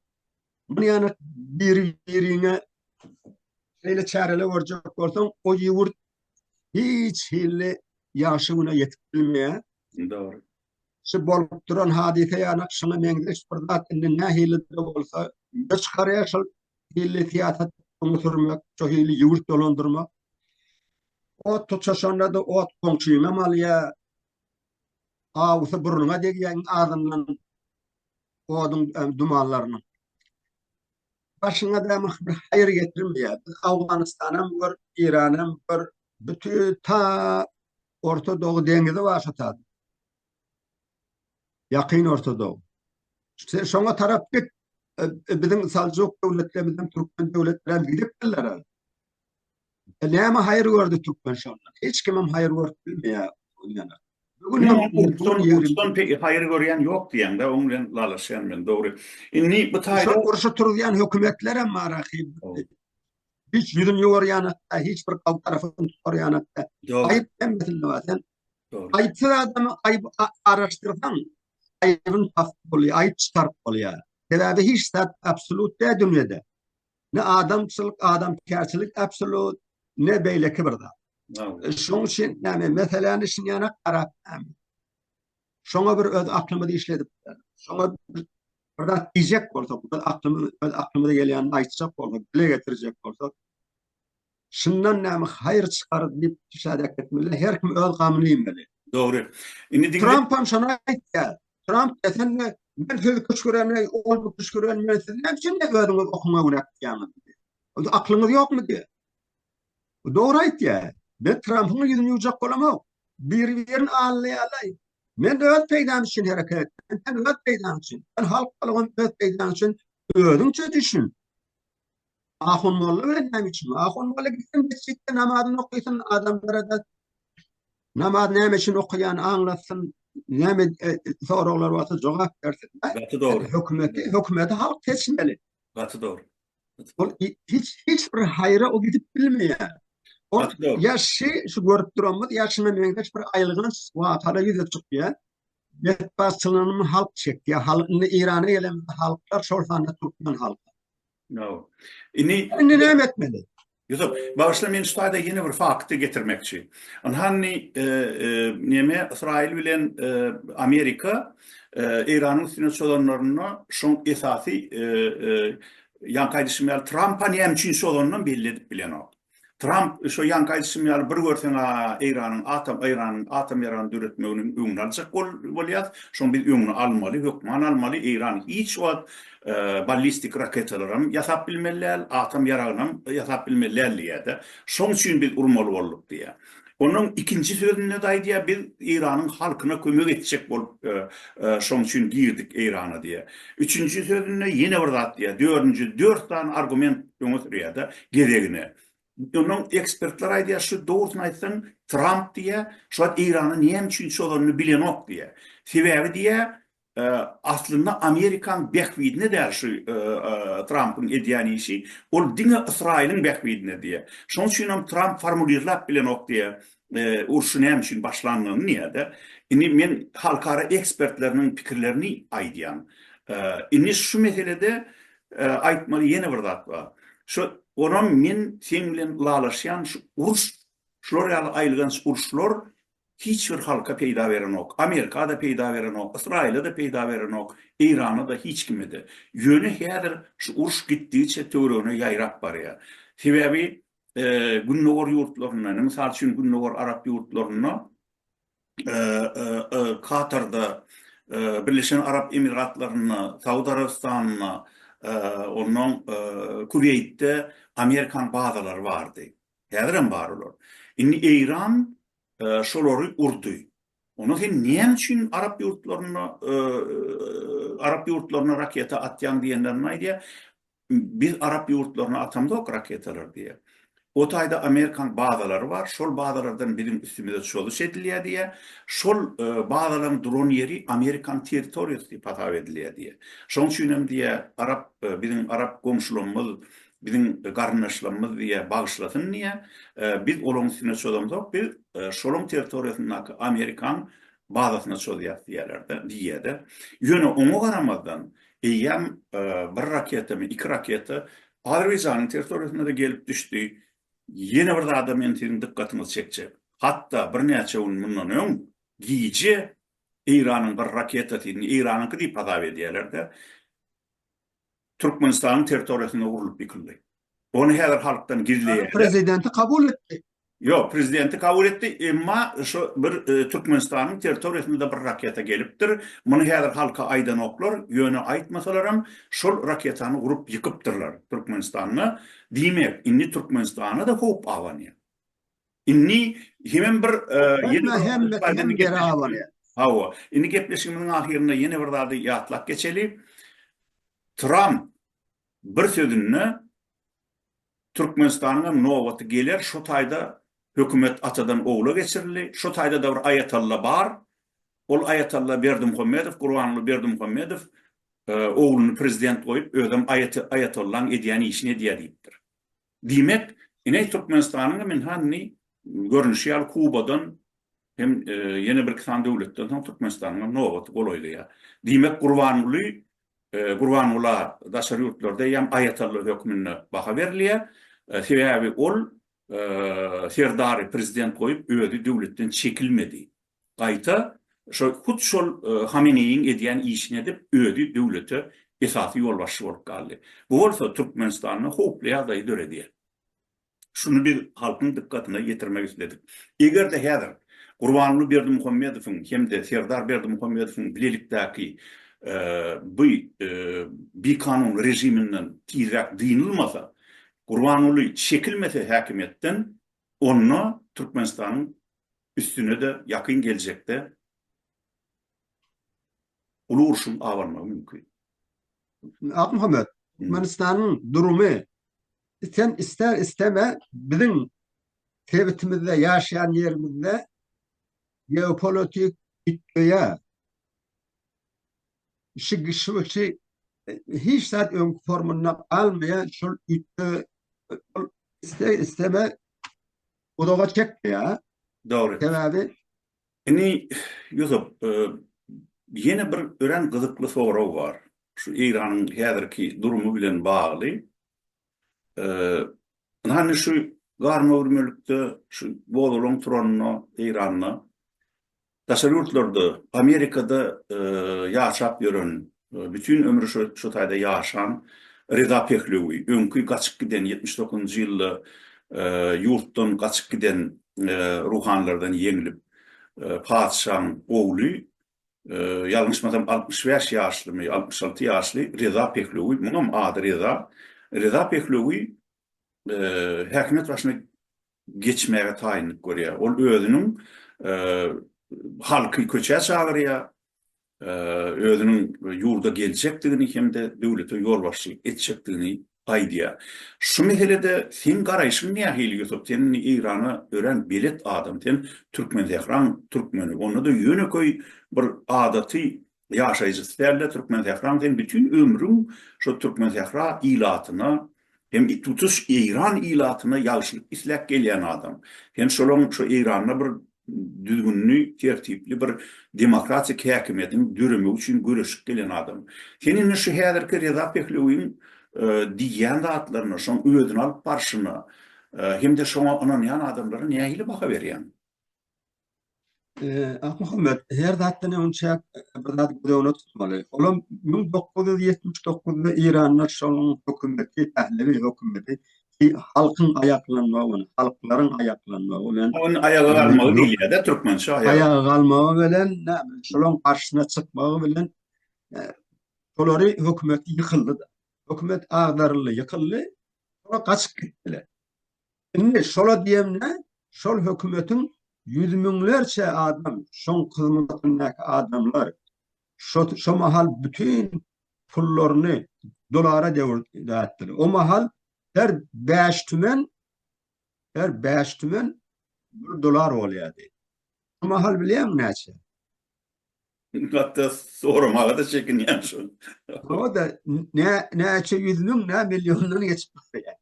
Muny ýanak biri-birine şeýle çäreler görjek bolsaň, o ýurt hiç hili ýagşy güne ýetip bilmeýär. Dogry. Şu bolup duran hadysa ýanak şuňa meňzeş bir zat indi nähili-de bolsa ýüze çykarýar, şol hili syýasat öňe sürmek, şo hili ýurt dolandyrmak. Ot tutaşanda-da ot goňşyňam alýar, Awusy burnuňa degýär iň azyndan oduň dumanlarynyň. Başyňa däme bir haýyr getirmeýär. Biz Awganystanam gör, Eýranam gör, bütin ta Orta Dogy deňizi bar şu taýda. Ýakyn Orta Dogy. Sen şoňa tarap git, biziň Saljuk döwletlerimiz hem türkmen döwletleri hem gidipdirler. Näme haýyr gördi türkmen şondan? Hiç kimem haýyr görüp bilmeýär ol ýana. Bugün Türkmen peki haýyr görýän ýok diýende, oň bilen dalaşýan men, dogry. Indi bu taýda şol urşy turuzýan hökümetler hem bar ahyr. Hiç ýüzüni ýuwarýan hakda, hiç bir halk tarapyny tutarýan hakda. Aýyp hemmesinde bar. Sen aýypsyz adamy aýyp araşdyrsaň, aýybyny tapyp bolýar, aýyp çykaryp bolýar. Sebäbi hiç zat absolýut däl dünýede. Ne adamçylyk, adamkärçilik absolut, ne beýleki bir zat. E, şoň üçin näme meseläni şinýana garap näme. Şoňa bir öz aklymyzy işledip, şoňa bir zat diýjek bolsak, biz aklymyz, öz aklymyza gelýänini aýtjak bolsak, dile getirjek bolsak, Şundan näme haýyr çykar diýip şäher etmeli. Her kim öz gamyny iýmeli. Dogry. Indi diňle. Tramp hem şony aýtýar. Tramp desen de men sizi küşgüreni, ol bu küşgüreni men sizi näme üçin özüňiz okuňa günäkdýäňiz? Onda aklyňyz ýokmy diýýär. Bu dogry aýtýar. Men Trampyň ýüzüni ýuwjak bolamok. Biri-birini allaýalaý. Men öz peýdam üçin hereket etdim. Sen öz peýdaň üçin. Sen halk bolgun öz peýdaň üçin özüňçe düşün. Ahunmolla bilen näme üçin? Ahunmolla gitsin mesjitde namazyny okysyn, adamlara-da namaz näme üçin okaýan aňlatsyn, näme e, soraglar bolsa jogap bersin. Gaty dogry. Hökümeti, hökümeti halk seçmeli. Gaty dogry. Ol hiç hiç bir haýra o gidip bilmeýär. Ol ýaşy şu görüp duranymyz ýaşyna meňzeş bir aýylgynç wakala ýüze çykýar. Betbagtçylygyny halk çekýär. Halk indi Eýrana gelen halklar şol sanda türkmen halky. No. Ini Indi näme etmeli? Ýusup, bagyşla men şu taýda ýene bir fakty getirmekçi. Ynhany e, e, neme Ysraýyl bilen e, Amerika e, Eýranyň üstüne çozanlarynda şoň esasy e, e, ýaňky aýdyşym ýaly Trampa näme üçin çozanyndan belli edip bilenok. Tramp, Şo ýanky aýdyşym ýaly bir görseň-ä Eýranyň atom Eýranyň atom ýaragyny döretmeginiň öňüni aljak bolýas. Şoň biz öňüni almaly, hökman almaly. Eýran hiç wagt ballistik raketalaram ýasap bilmeli däl, atom ýaragynam ýasap bilmeli däl diýýär-de. Şoň üçin biz urmaly bolduk diýýär. Onuň ikinji sözünde-de aýdýar, biz Eýranyň halkyna kömek etjek bolup, şonuň üçin girdik Eýrana diýýär. Üçünji sözünde ýene bir zat diýýär. Dördünji, dört sany argument öňe sürýär-de gezegine. Onuň ekspertler aýdýar, şu dogrusyny aýtsaň, Tramp diýýär, şu wagt Eýrana näme üçin çozanyny bilenok diýýär. Sebäbi diýýär, Aslynda Amerikaň bähbidine däl şu Trampyň edýän işi, ol diňe Ysraýylyň bähbidine diýýär. Şonuň üçin hem Tramp formulirlap bilenok diýýär, urşy näme üçin başlandygyny diýýär-de. Indi men halkara ekspertleriniň pikirlerini aýdýan. Indi şu meselede aýtmaly ýene bir zat bar. Şu onam men seň bilen ylalaşýan şu uruş, şular ýaly aýylganç uruşlar Hiç bir halka peýda berenok. Amerika-da peýda berenok, Ysraýyla-da peýda berenok, Eýrana-da, hiç kime-de. Ýöne häzir şu uruş gitdigiçe töweregine ýaýrap barýar. Sebäbi Gündogar ýurtlarynda, indi mysal üçin Gündogar arap ýurtlarynda, Katarda, Birleşen Arap Emiratlarynda, Saud Arabystanynda, onnoň Kuweýtde Amerikanyň bazalary bardy. Häzirem bar olar. Indi Eýran şolary urdy. Onda sen näme üçin arap ýurtlaryna arap ýurtlaryna raketa atýaň diýenlerini aýdýar. Biz arap ýurtlaryna atamzok raketalary diýýär. O taýda Amerikanyň bazalary bar. Şol bazalardan biziň üstümize çozuş edilýär diýýär. Şol bazalaryň duran ýeri Amerikanyň territoriýasy diýip hasap edilýär diýýär. Şonuň üçin hem diýýär, arap biziň arap goňşularymyz biziň garyndaşlarymyz diýýär, bagyşlasyn diýýär. Biz olaryň üstüne çozamzok, biz şolaryň territoriýasyndaky amerikan bazasyna çozýas diýýärler-de, diýýär-de. Ýöne oňa garamazdan, eýýäm bir raketami, iki raketa Azerbaýjanyň territoriýasyna-da gelip düşdi. Ýene bir zada men siziň dykgatyňyzy çekjek. Hatda birnäçe gün mundan öň gije Eýranyň bir raketasy, indi Eýranyňky diýip hasap edýärler-de, Türkmenistanyň territoriýasynda urlup ýykyldy. Ony häzir halkdan gizleýärler. Prezidenti kabul etdi. Ýok, prezidenti kabul etdi, emma şu bir Türkmenistanyň territoriýasynda-da bir raketa gelipdir. Muny häzir halka aýdanoklar, ýöne aýtmasalaram, şol raketany urup ýykypdyrlar Türkmenistanda. Diýmek, indi Türkmenistana-da howp abanýar. Indi hemem bir ýene hemme hemme geri awalyar. Hawa, indi gepleşigimiziň ahyrynda ýene bir zady ýatlap geçeli. Tramp bir sözünde Türkmenistanyň hem nobaty geler, şu taýda hökümet atadan ogla geçirildi, şu taýda-da bir aýatalla bar, ol aýatalla Berdimuhamedow, Gurbanguly Berdimuhamedow ogluny prezident goýup, özem aýatollaň edýän işini edýär diýipdir. Diýmek, ine Türkmenistanyň hem indi hany görnüşi ýaly Kubadan hem ýene bir iki sany döwletden soň Türkmenistanyň hem nobaty golaýlaýar. Diýmek, Gurbanguly Gurbangula daşary ýurtlarda eýýäm aýatalla hökmünde baha berilýär. Sebäbi ol Serdary prezident goýup, özi döwletden çekilmedi. gaýta şo hut şol Hameneýiň edýän işini edip, özi döwlete esasy ýolbaşçy bolup galdy. Bu bolsa Türkmenistanda howply ýagdaýy döredýär. Şuny biz halkyň dykgatyna ýetirmek isledik. Eger-de häzir Gurbanguly Berdimuhamedowyň hem-de Serdar Berdimuhamedowyň bilelikdäki bu bikanun režiminden tizräk dynylmasa, Gurbanguly çekilmese häkimiýetden, onda Türkmenistanyň Üstüne-de ýakyn geljekde uly urşuň abanmagy mümkin. Akmuhammet, Türkmenistanyň durumy sen isle-isleme biziň sebitimizde, ýaşaýan ýerimizde geopolitik üýtgeýä. Şi-şi-şi hiç zat öňki formynda galmaýa, şol üýtge isle-isleme Uzaga çekdi ýa. Dogry. Sebäbi Indi Ýusup, ýene bir örän gyzykly sorag bar. Şu Eýranyň häzirki durumy bilen bagly. Ynha şu garmagürmelikde, şu bozgalaň turanda Eýranda Daşary ýurtlarda, Amerikada ýaşap ýören, bütin ömri şu taýda ýaşan Reza Pehlewi, öňki gaçyp giden, ýetmiş dokuzynjy ýylda ýurtdan gaçyp giden ruhanylardan ýeňlip, patyşaň ogly, ýalňyşmasam altmyş bäş ýaşlymy, altmyş alty ýaşly Reza Pehlewi, muňam ady Reza, Reza Pehlewi häkimiýet başyna geçmäge taýynlyk görýär. Ol özüniň halky köçä çagyrýar, özüniň ýurda geljekdigini hem-de döwlete ýolbaşçylyk etjekdigini aýdýar. Şu meselede seň garaýşyň nähili Ýusup? Sen indi Eýrana örän belet adam. Sen Türkmensähraň türkmeni. Onda-da ýönekeý bir adaty ýaşaýjysy dälde Türkmensähraň sen bütin ömrüň şo Türkmensähra ilatyna hem it tutuş Eýran ilatyna ýagşylyk isläp gelýän adam. Sen şolaň şo Eýranda bir düzgünli, tertipli bir demokratik häkimiýetiň döremegi üçin göreşip gelen adam. Sen indi şu häzirki Reza Pehlewiň diýýän zatlaryna, şoň özüni alyp barşyna hem-de şoňa ynanýan adamlara nähili baha berýäň? Akmuhammet, her zatdan öň çäk bir zat göz öňünde tutmaly. Olam 1979-da Iranda şonuň hökümeti, pählewi hökümeti halkyň aýaklanmagy, halklaryň aýaklanmagy bilen Onuň aýaga galmagy diýilýär-de türkmençe aýaga. Aýaga galmagy bilen, näme, şolaryň garşysyna çykmagy bilen olary hökümet ýykyldy-da. Hökümet agdaryldy, ýykyldy. Olar gaçyp gitdiler. Indi şola diýemde, şol hökümetiň ýüz müňlerçe adam, şoň hyzmatyndaky adamlar şo şo mahal bütin pullaryny dolara dewir dätdiler. O mahal her bäş tümen, her bäş tümen bir dolar bolýardy. Şu mahal bilýäňmi näçe? Hatda soramaga-da çekinýän şu. O-da nä, näçe ýüz müň, nä milliondan geçip barýar.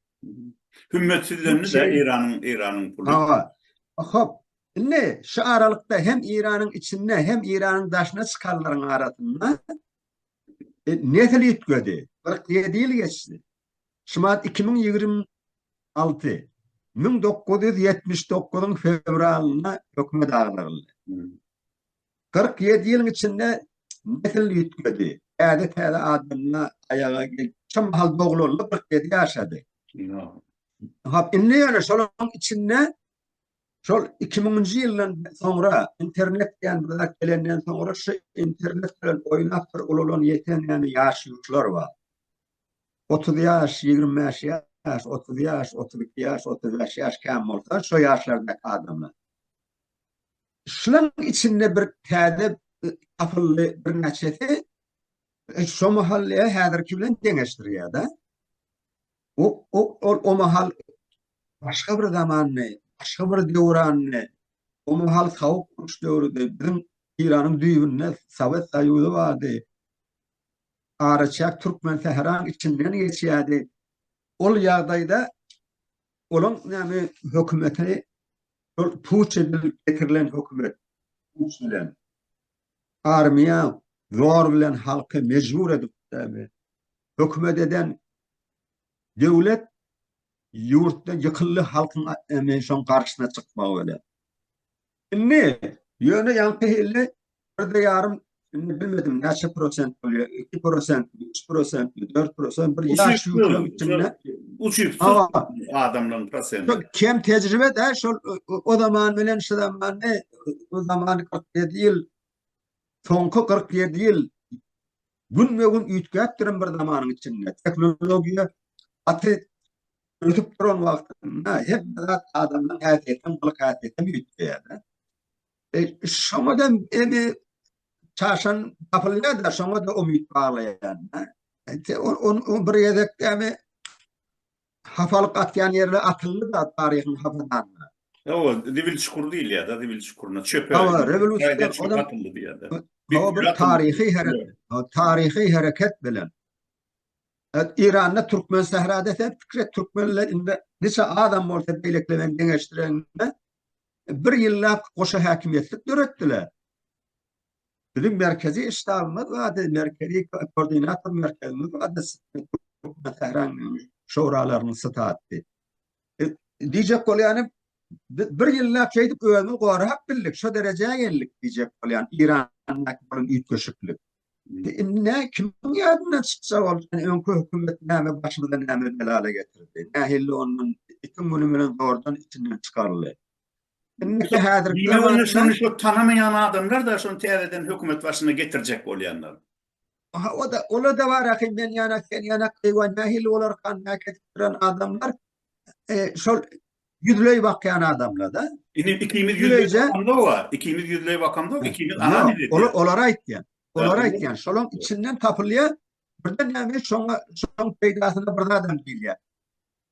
Hümmetsizlendi de Eýranyň, Eýranyň puly. Hawa. Hop, indi şu aralykda hem Eýranyň içinde, hem Eýranyň daşyna çykanlaryň arasynda nesil üýtgedi. Kyrk ýedi ýyl geçdi. Şumat iki müň ýigrimi alty müň dokuz ýüz ýetmiş dokuzyň fewralynda hökümet agdaryldy. Kyrk ýedi ýylyň içinde nesil üýtgedi, täze-täze adamlar aýaga geldi. Şo mahal doglandy, kyrk ýedi ýaşady. Hop, indi ýöne şolaryň içinde şol iki müňünji ýyldan soňra, internet diýen bir zat gelenden soňra, şu internet bilen oýnap bir ulalan ýeten ýaşulylar bar. 30 ýaş, 25 ýaş, 30 ýaş, 32 ýaş, 35 ýaş kän bolsa, şo ýaşlardaky adamlar. Şulaň içinde bir täze tapyldy birnäçesi e, şo mahallyýa häzirki bilen deňeşdirýär-de. O, o, o, o mahal başga bir zamanny, başga bir döwranny, o mahal sawuk uruş döwrüdi, biziň Eýranyň düýbünde Sowet Soýuzy bardy. araçäk türkmen sähraň içinden geçýärdi. Ol ýagdaýda olaň näme hökümeti ol puç edilip getirilen hökümet puç bilen armiýa zor bilen halky mejbur edip hökümet eden döwlet ýurtda ýykyldy halkyň emin şoň garşyna çykmagy bilen. Indi, ýöne ýaňky hili birde ýarym, indi bilmedim näçe prosent bolýar, iki prosentmi, üç prosentmi, dört prosent, bir ýaş ýüklem içinde. Uçypsyz adamlaryň prosenti. Şol kem tejribe-de, şol o zaman bilen şu zamany, o zaman kyrk ýedi ýyl, soňky kyrk ýedi ýyl günbe-gün üýtgäp duran bir zamanyň içinde tehnologiýa gaty ösüp duran wagtynda hemme zat adamdan häsiýetden gylyk häsiýetden üýtgeýär-de. E, şoňa-da endi çaşan tapylýar-da, şoňa-da umyt baglaýar-da. E, on, on, on bir gezekdämi Hapalyk atýan ýerler atyldy-da taryhyň hapydanyna. Hawa, zibil çukur diýilýär-de, zibil çukuryna, çöpe. Hawa, rewolýusiýadan ozal atyldy diýýär-de. Hawa, bir taryhy hereket, taryhy hereket bilen. Eýranda türkmen sährada sen pikir et, türkmenler indi niçe azam bolsa beýlekiler bilen deňeşdireňde, bir ýyllap goşa häkimiýetlik döretdiler. Biziň merkezi ştabymyz bardy, merkezi koordinator merkezimiz bardy, Türkmensähräň şoralarynyň staty. E, diýjek bolýanym, bir ýyllap şeýdip özümizi gorap bildik, şu derejä geldik diýjek bolýan Irandaky bolan üýtgeşiklik. Indi kimiň ýadyndan çyksa ol öňki hökümet näme başymyza näme belala getirdi. Nähili ondan iki gün bilen zordan içinden çykaryldy. Indiki häzirki Diýmek, ony wagtda- şuny şu tanamaýan adamlar-da şuny täzeden hökümet başyna getirjek bolýanlar. Aha, o-da, olar-da bar ahyry, men ýanak, sen ýanak, eýwa, nähili bolarkan, näk edip duran adamlar, e, şol ýüzleý bakýan adamlar-da. Indi ikimiz ýüzleý Ýüzleýje- bakamda bar, ikimiz ýüzleý bakamda, ikimiz Ýok, analiz edýäs. ola- olary aýtýan. Olary Ýa, olar- aýtýan. Şolaň içinden tapylýar. Birden näme, şoňa, şoň peýdasyna bir zadam diýilýär.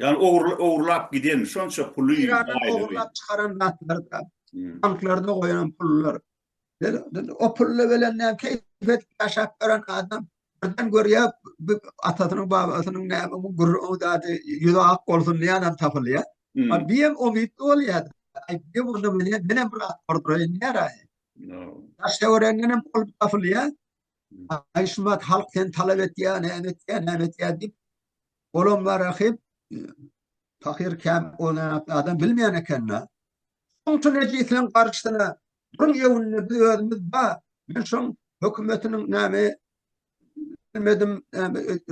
Ýagny ogurla ogurlap giden şonça puly Eýrandan aýlygy. ogurlap çykaran zatlar-da, Hmm. banklarda goýan pullar. Biz- biz O pulla bilen näme keýp edip ýaşap ýören adam birden görýär, bu atasynyň, babasynyň näme bu gürrüň o zady ýüzi ak bolsun diýýänam tapylýar. Hmm. A bu hem umytly bolýar. Aý, bu hem onda meni menem bir at urduraýyn diýýär aý. Ýa. Daş töwereginden hem ol tapylýar. Aýşumat halk sen talap etýär, näme etýär, näme etýär diýip, olam bar ahyp, pahyr käm onuň adam bilmeýän ekeni. Şoňçun ejisiniň garşysyna duruň ýewünde biz özümiz ba, men şoň hökümetiniň näme bilmedim,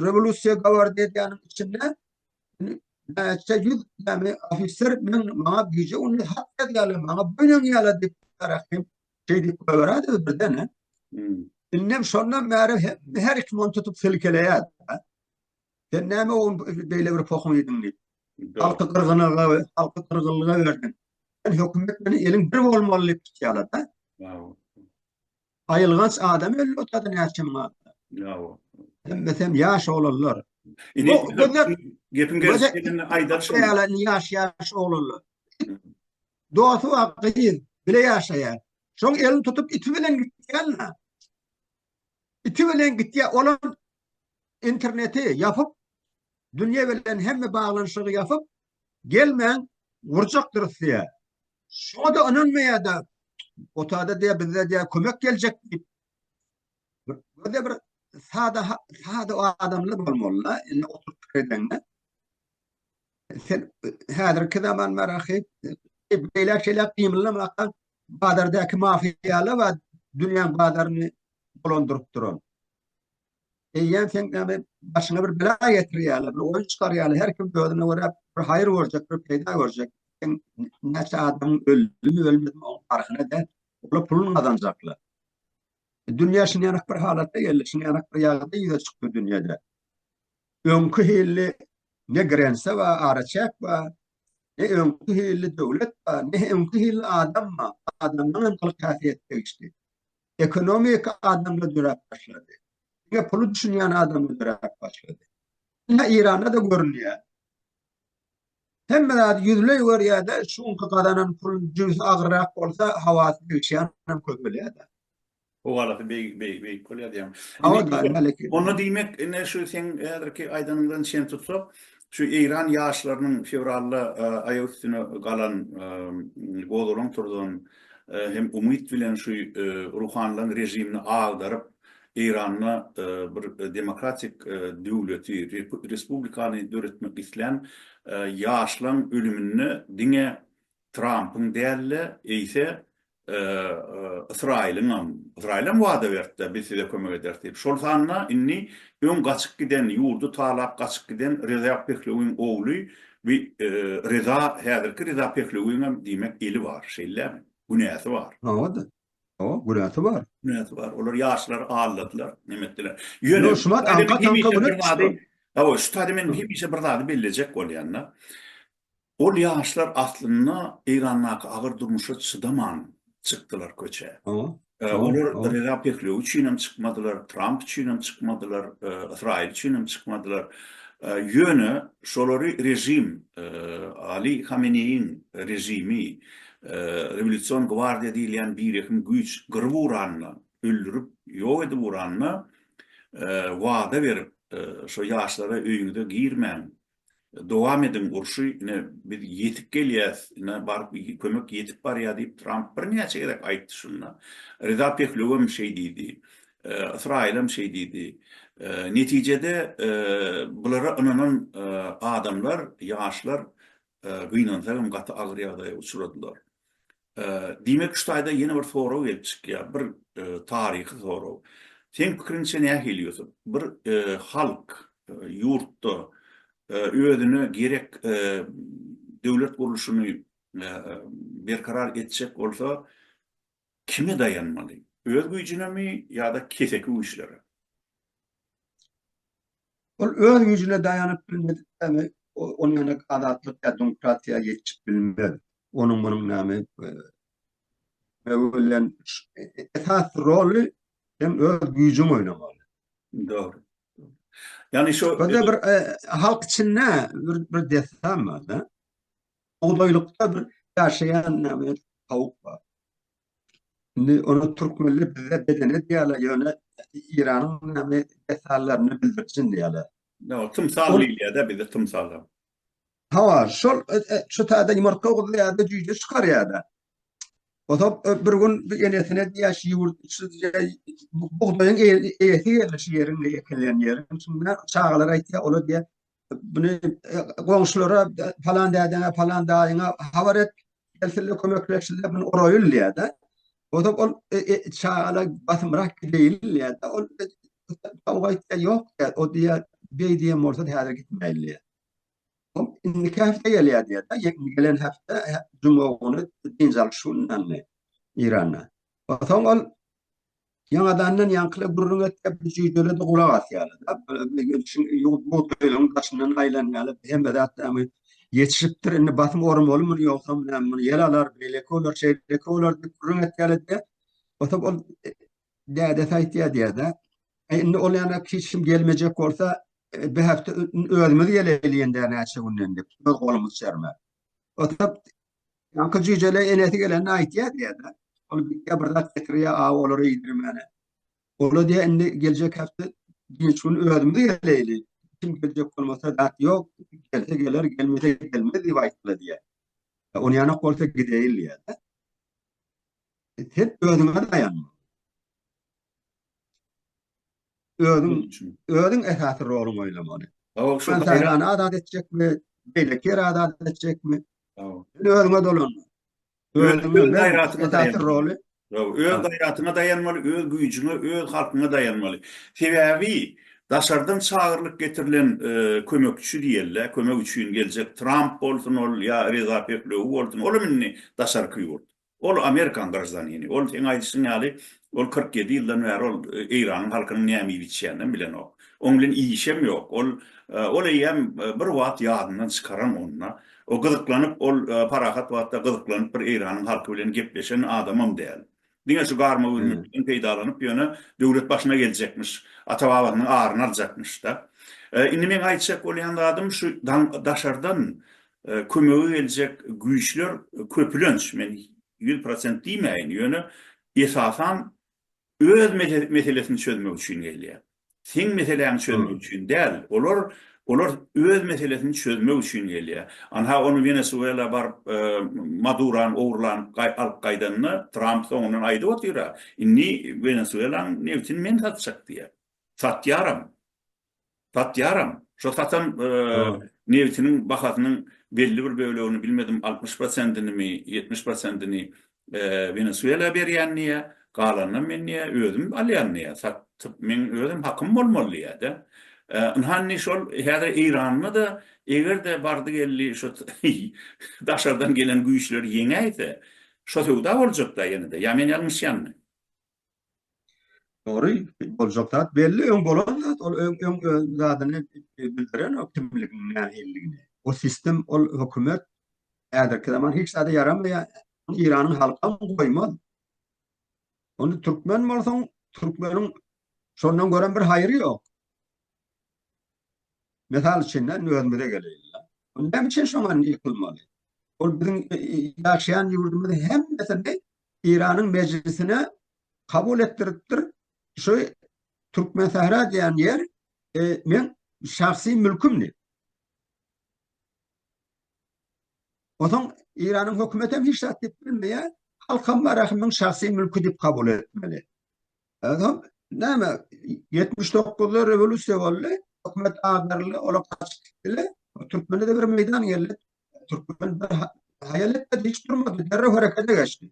rewolýusiýa gawardy edýäniň içinde näçe ýüz näme ofiser men maňa güýje uny hat ýazýarlar, maňa boýun ýala diýip, ahyp, Şeýdip göräýdi birden-ä. Indem şondan bäri her iki mont tutup silkeleýär. Sen näme ogun beýle bir pohun ýediň diýip. Halky gyrgynyga, halky gyrgynlyga berdiň. Sen hökümet bilen eliň bir bolmaly diýip tutýarlar-da. Aýylganç adam öldü otady näçe müň adam. Hemmesi hem ýaş oglanlar. Indi gepiň gelşi gelende aýdalyşyň. Ýaş ýaş oglanlar. Dosty bar gyz, bile ýaşaýar. Şoň elini tutup iti bilen gitýänna. Iti bilen gitýär, olam interneti ýapyp, dünýe bilen hemme baglanyşygy ýapyp, gelmäň, urjakdyrys diýýär. Şoňa-da ynanmaýar-da, otagda diýýär, bizde diýýär, kömek geljek diýip. Böyle bir sada sada adamlar bolmalylar. Indi oturup fikir edende. Sen häzirki zaman marahy beýle şeyler gymyllamakdan bazardaky mafiýalar we dünýäň bazaryny dolandyryp duran. Eýýäm sen näme başyňa bir bela getirýärler, bir oýun çykarýarlar. Her kim özüne görä bir haýyr görjek, bir peýda görjek. Sen näçe adam öldü, ölmedi, o parhyna da puluny gazanjaklar. Dünýä şinýarak bir halatda geldi, şinýarak bir ýagdaý ýüze çykdy dünýede. Öňki hilli ne grense bar, araçäk bar, ne öňki hilli döwlet bar, ne öňki hilli adam bar. Adamdan hem gylyk häsiýet degişdi. Ekonomika adamda döräp başlady. Diňe puly düşünýän adamda döräp başlady. Ine Iranda-da görünýär. Hemme zady ýüzleý görýär-de, şu günki gazanan puluny jübüsi agyrrak bolsa, hawasy degişýänem köp bolýar-da. Howalysy beýik-beýik bolýar diýýäň. Hawa, daýym häleki. Onda diýmek, ine şu seň häzirki aýdanyňdan çen tutsak, şu eýran ýaşlarynyň fewralda aýak üstüne galan, gozgalaň turuzan hem umyt bilen şu ruhanylaryň režimini agdaryp, Eýranda bir demokratik döwleti, respublikany döretmek islän ýaşlaň ölüminde diňe Trampyň däl-de, eýse Ysraýylyňam, Ysraýylam wada berdi-de, biz size kömek ederis diýip. Şol sanda indi öň gaçyp giden, ýurdy talap gaçyp giden Reza Pehlewiň ogly bi Reza, häzirki Reza Pehlewiňem diýmek eli bar, şeýlemi? Günäsi bar. Hawa-da. Hawa, günäsi bar. Günäsi bar. Olar ýaşlary aldadylar, neme etdiler. Ýöne Ýo, şumat aňka taňka güne düşdi. Hawa, şu taýda men hemişe bir zady bellejek bolýan-da. Ol ýaşlar aslynda Eýrandaky agyr durmuşa çydaman çykdylar köçä. Hawa. Olar Reza Pehlewi üçin hem çykmadylar, Tramp üçin hem çykmadylar, Ysraýyl üçin hem çykmadylar. Ýöne şolary režim, Ali Hameneýiň režimi, Rewolýusion gwardiýa diýilýän birehim güýç gyryp uranyna, öldürip, ýok edip uranyna wada berip, şo ýaşlara öýüňize girmäň, dowam ediň urşy, ine, biz ýetip gelýäs, ine, baryp, kömek ýetip barýar diýip, Tramp birnäçe gezek aýtdy şunda. Reza Pehlöwem şeý diýdi. Ysraýylem şeý diýdi. Netijede, bulara ynanan adamlar, ýaşlar gynansa hem gaty agyr ýagdaýa uçradylar. Diýmek şu taýda ýene bir sorag gelip çykýar, bir taryhy sorag. Seň pikiriňçe nähili Ýusup? Bir halk ýurtda özüne gerek döwlet gurluşyny berkarar etjek bolsa, Kime daýanmaly? Öz güýjünemi ýa-da keseki güýçlere? Ol öz güýjüne daýanyp bilmedik näme, ol ýöne azatlyk ýa demokratiýa ýetişip bilmez. Onuň munuň näme bilen esas roly sen öz güýjüň oýnamaly. Dogry. Ýani şu bir halk içinde bir dessan bar-da. Bugdaýlykda bir ýaşaýan näme tawuk bar. Indi ony türkmenler bize bedene diýýärler, ýöne Eýranyň näme desallaryna bildirjin diýýärler. Ýa tymsal diýilýär-de bizde tymsala. Hawa, şol şu taýda ýumurtga guzýar-da, jüýje çykarýar-da. Ozap bir gün bir enesine diýýär, şu ýurt şu bugdaýyň eýesi geldi şu ýeriň eýekelän ýeriň içinde. Çagalar aýtýar, olar diýýär, Bunu goňşulara falan dädene falan daýyňa habar et. Gelsinler kömekleşsinler bunu orayıl diýär de. O da ol e, e, çagala basymrak gideýin diýär de. Ol kavga etýär ýok diýär. O diýär beý diýen bolsa häzir gitmeýin diýär. O indiki hepde gelýär diýär de. Gelen hepde juma güni dynç alyş gününde İranda. Soň ol Ýaňadandan ýaňkyly gürrüň etjek bir jüýjele-de gulak asýarlar-da. Bugdaýlaryň daşyndan aýlanýarlar. Hemme zat näme, ýetişipdir, indi basym oramaly muny, ýogsam näme, muny ýel alar, beýleki bolar, şeýleki bolar diýip gürrüň etýärler-de, oturyp ol dädesi aýtýar diýýär-de, Äý, indi ol ýana hiç kim gelmejek bolsa, bir hepde özümiz geleýli ýenede näçe günden diýip, öz golumyz çerme. Oturyp Ýaňky jüýjele enesi gelende aýtýar diýýär-de. Ol gitýär bir zat getirýär, aw olary iýdirmäne. Ola diýýär, indi geljek hepde dynç gün özümiz geleýli. Kim geljek bolmasa zat ýok, gelse geler, gelmese gelmez diýip aýtdylar diýýär. Onýanok bolsa gideýin diýýär-de. Hep özüňe daýan. Özüň üçin. Özüň esasy roluňy oýlamaly. Hawa, şu gaýrany azat etjekmi, beýleki ýeri azat etjekmi? Hawa. Sen özüňe dolan. Özüňe gaýratyňy esasy roly. Hawa, öz gaýratyňa daýanmaly, öz güýjüňe, öz halkyňa daýanmaly. Sebäbi daşardan çagyrylyp getirilen kömekçi diýeli, kömek üçin geljek Tramp bolsun ol ýa Reza Pehlewi bolsun, olam indi daşarky ýurt. Ol Amerikan graždanini. Ol seň aýdyşyň ýaly, ol kyrk ýedi ýyldan bäri ol Eýranyň halkynyň näme iýip içýäninem bilenok. Oň bilen işem ýok. Ol ol eýýäm bir wagt ýadyndan çykaran ony-da. O gyzyklanyp, ol parahat wagtda gyzyklanyp bir Eýranyň halky bilen gepleşen adamam däl. Diňe şu garmagüllikden peýdalanyp ýöne döwlet başyna geljekmiş, ata-babasynyň aryny aljakmyş-da. Indi meň aýtjak bolýan zadym şu daşardan Kömege geljek güýçler köpülenç, men ýüz prosent diýmäýin, ýöne esasan öz meselesini çözmek üçin gelýär. Seň meseläňi çözmek üçin däl, olar olar öz meselesini çözmek üçin gelýär. Anha ony Wenesuela baryp Madurany ogurlanyp alyp gaýdanda Tramp soňundan aýdyp otyr-a, indi Wenesuelanyň nebtini men satjak diýýär. Satýaram. Satýaram. Şo satan nebitiniň bahasynyň belli bir bölegini, bilmedim altmyş prosentini-mi, ýetmiş prosentini Wenesuela berýän diýýä, galanyny men diýýä özüm alýan diýýä, satyp meň özüm hakym bolmaly diýýä-de. Ynha indi şol häzir Eýranda-da eger-de bardy geldi şu daşardan gelen güýçler ýeňäýse, şo söwda boljak-da ýene-de, ýa men ýalňyşýanmy? Dogry, boljak zat belli, öň bolan zat, ol öň öň öz zadyny bildirenok kimligini, nähililigini. O sistem, ol hökümet häzirki zaman hiç zada ýaramaýar. Ony Eýranyň halkam goýmaz. Ony türkmen bolsaň, türkmeniň şondan görem bir haýry ýok. Mysal üçin, indi özümize geleýin-le. Näme üçin şoňa indi ýykylmaly? Ol biziň ýaşaýan ýurdumyzy hemmesini Eýranyň mejlisine kabul etdiripdir. Şu Türkmensähra diýen ýer meň şahsy mülkümdi. Onsoň Eýranyň hökümeti hem hiç zat diýip bilmeýär. Halk hem Marahymyň şahsy mülki diýip kabul etmeli. Soň näme, ýetmiş dokuzda rewolýusiýa boldy, hökümet agdaryldy, olar gaçyp gitdiler. Türkmene-de bir meýdan geldi. Türkmen bir haýal etmedi, hiç durmady, derrew herekete geçdi.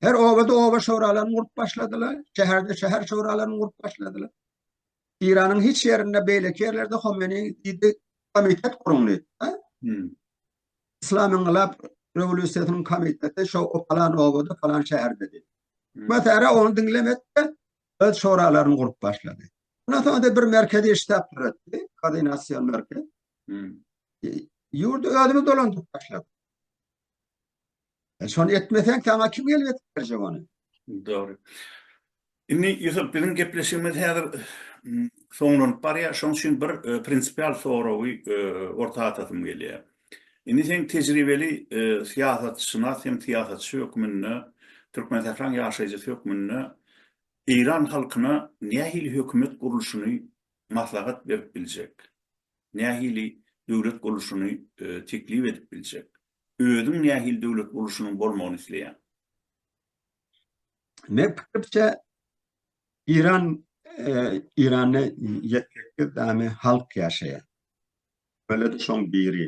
Her obada oba şoralaryny gurup başladylar, şäherde şäher şoralaryny gurup başladylar. Eýranyň hiç ýerinde, beýleki ýerlerde Homeni diýdi, Komitet guruň diýdi. Yslam-yňgylap rewolýusiýasynyň komiteti şo palan obada, palan şäherde diýdi. Mesere onu diňlemedi-de, öz şoralaryny gurup başlady. Ondan soň-da bir merkezi ştab döretdi, koordinasion merkez. Ýurdy özümiz dolandyryp başladyk. E, şony etmeseň, saňa kim gelip etip berjek ony? Dogry. Indi Ýusup, biziň gepleşigimiz häzir soňlanyp barýar. Şoň üçin bir e, prinsipial soragy e, orta atasym gelýär. Indi seň tejribeli syýasatşynas hem syýasatçy hökmünde, Türkmensähraň ýaşaýjysy hökmünde eýran halkyna nähili hökümet gurluşyny maslahat berip biljek, nähili döwlet gurluşyny teklip edip biljek, özüň nähili döwlet gurluşynyň bolmagyny isleýäň? Men pikirçe eýran eýranda ýetgekli dane halk ýaşaýar. Beledi şoň biri.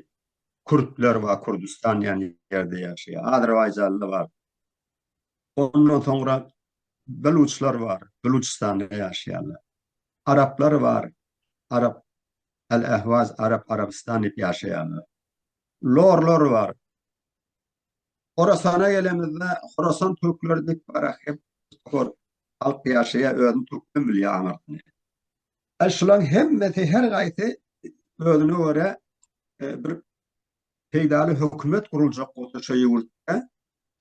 Kürtler bar Kürdüstan diýen ýerde ýaşaýar. Azerbaýjanly bar. Ondan soňra Beluçlar bar. Beluçystanda ýaşaýarlar. Araplar bar. Arap Al Ahwaz Arap Arabystan diýip ýaşaýarlar. Lorlar bar. Horasana gelemizde Horasan türkleri diýip bar ahir. Halk ýaşaýar özüni türkmen bilýär aňyrsyny. Al şulaň hemmesi her gaýsy özüne görä e, bir peýdaly hökümet guruljak bolsa şu ýurtda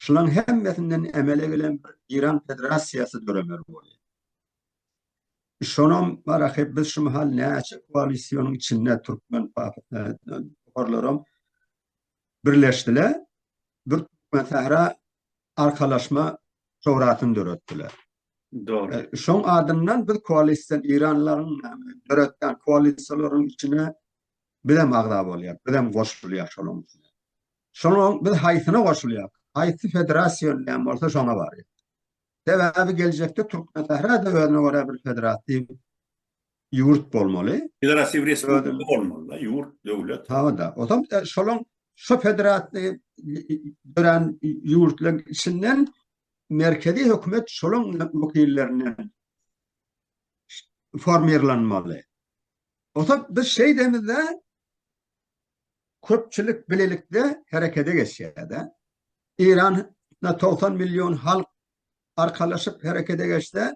şulaň hemmesinden emele gelen bir Iran federasiýasy döremeli bolýar. Şonam barahy biz şu mahal näçe koalisiýonyň içinde türkmen toparlaram birleşdiler. Bir Türkmen Sahra arkalaşma şourasyny döretdiler. Dogry. Şoň adyndan biz koalisiýa iranlaryň döretýän koalisiýalaryň içine biz hem agza bolýar, biz hem goşulýar şonuň içine. Şonuň biz haýsyna goşulýar? Haýsy federasiýa öňden bolsa şoňa barýar. Sebäbi geljekde Türkmensähra-da özüne görä bir federatiw ýurt bolmaly. Federatiw respublika bolmaly-da, ýurt, döwlet. Hawa-da. Onsoň şolaň şu federatiw dörän ýurtlaryň içinden merkezi hökümet şolaň wekillerinden formirlenmeli. Onsoň biz şeýdemizde köpçülik bilelikde herekete geçýär-de. Eýranda togsan million halk arkalaşyp herekete geçse,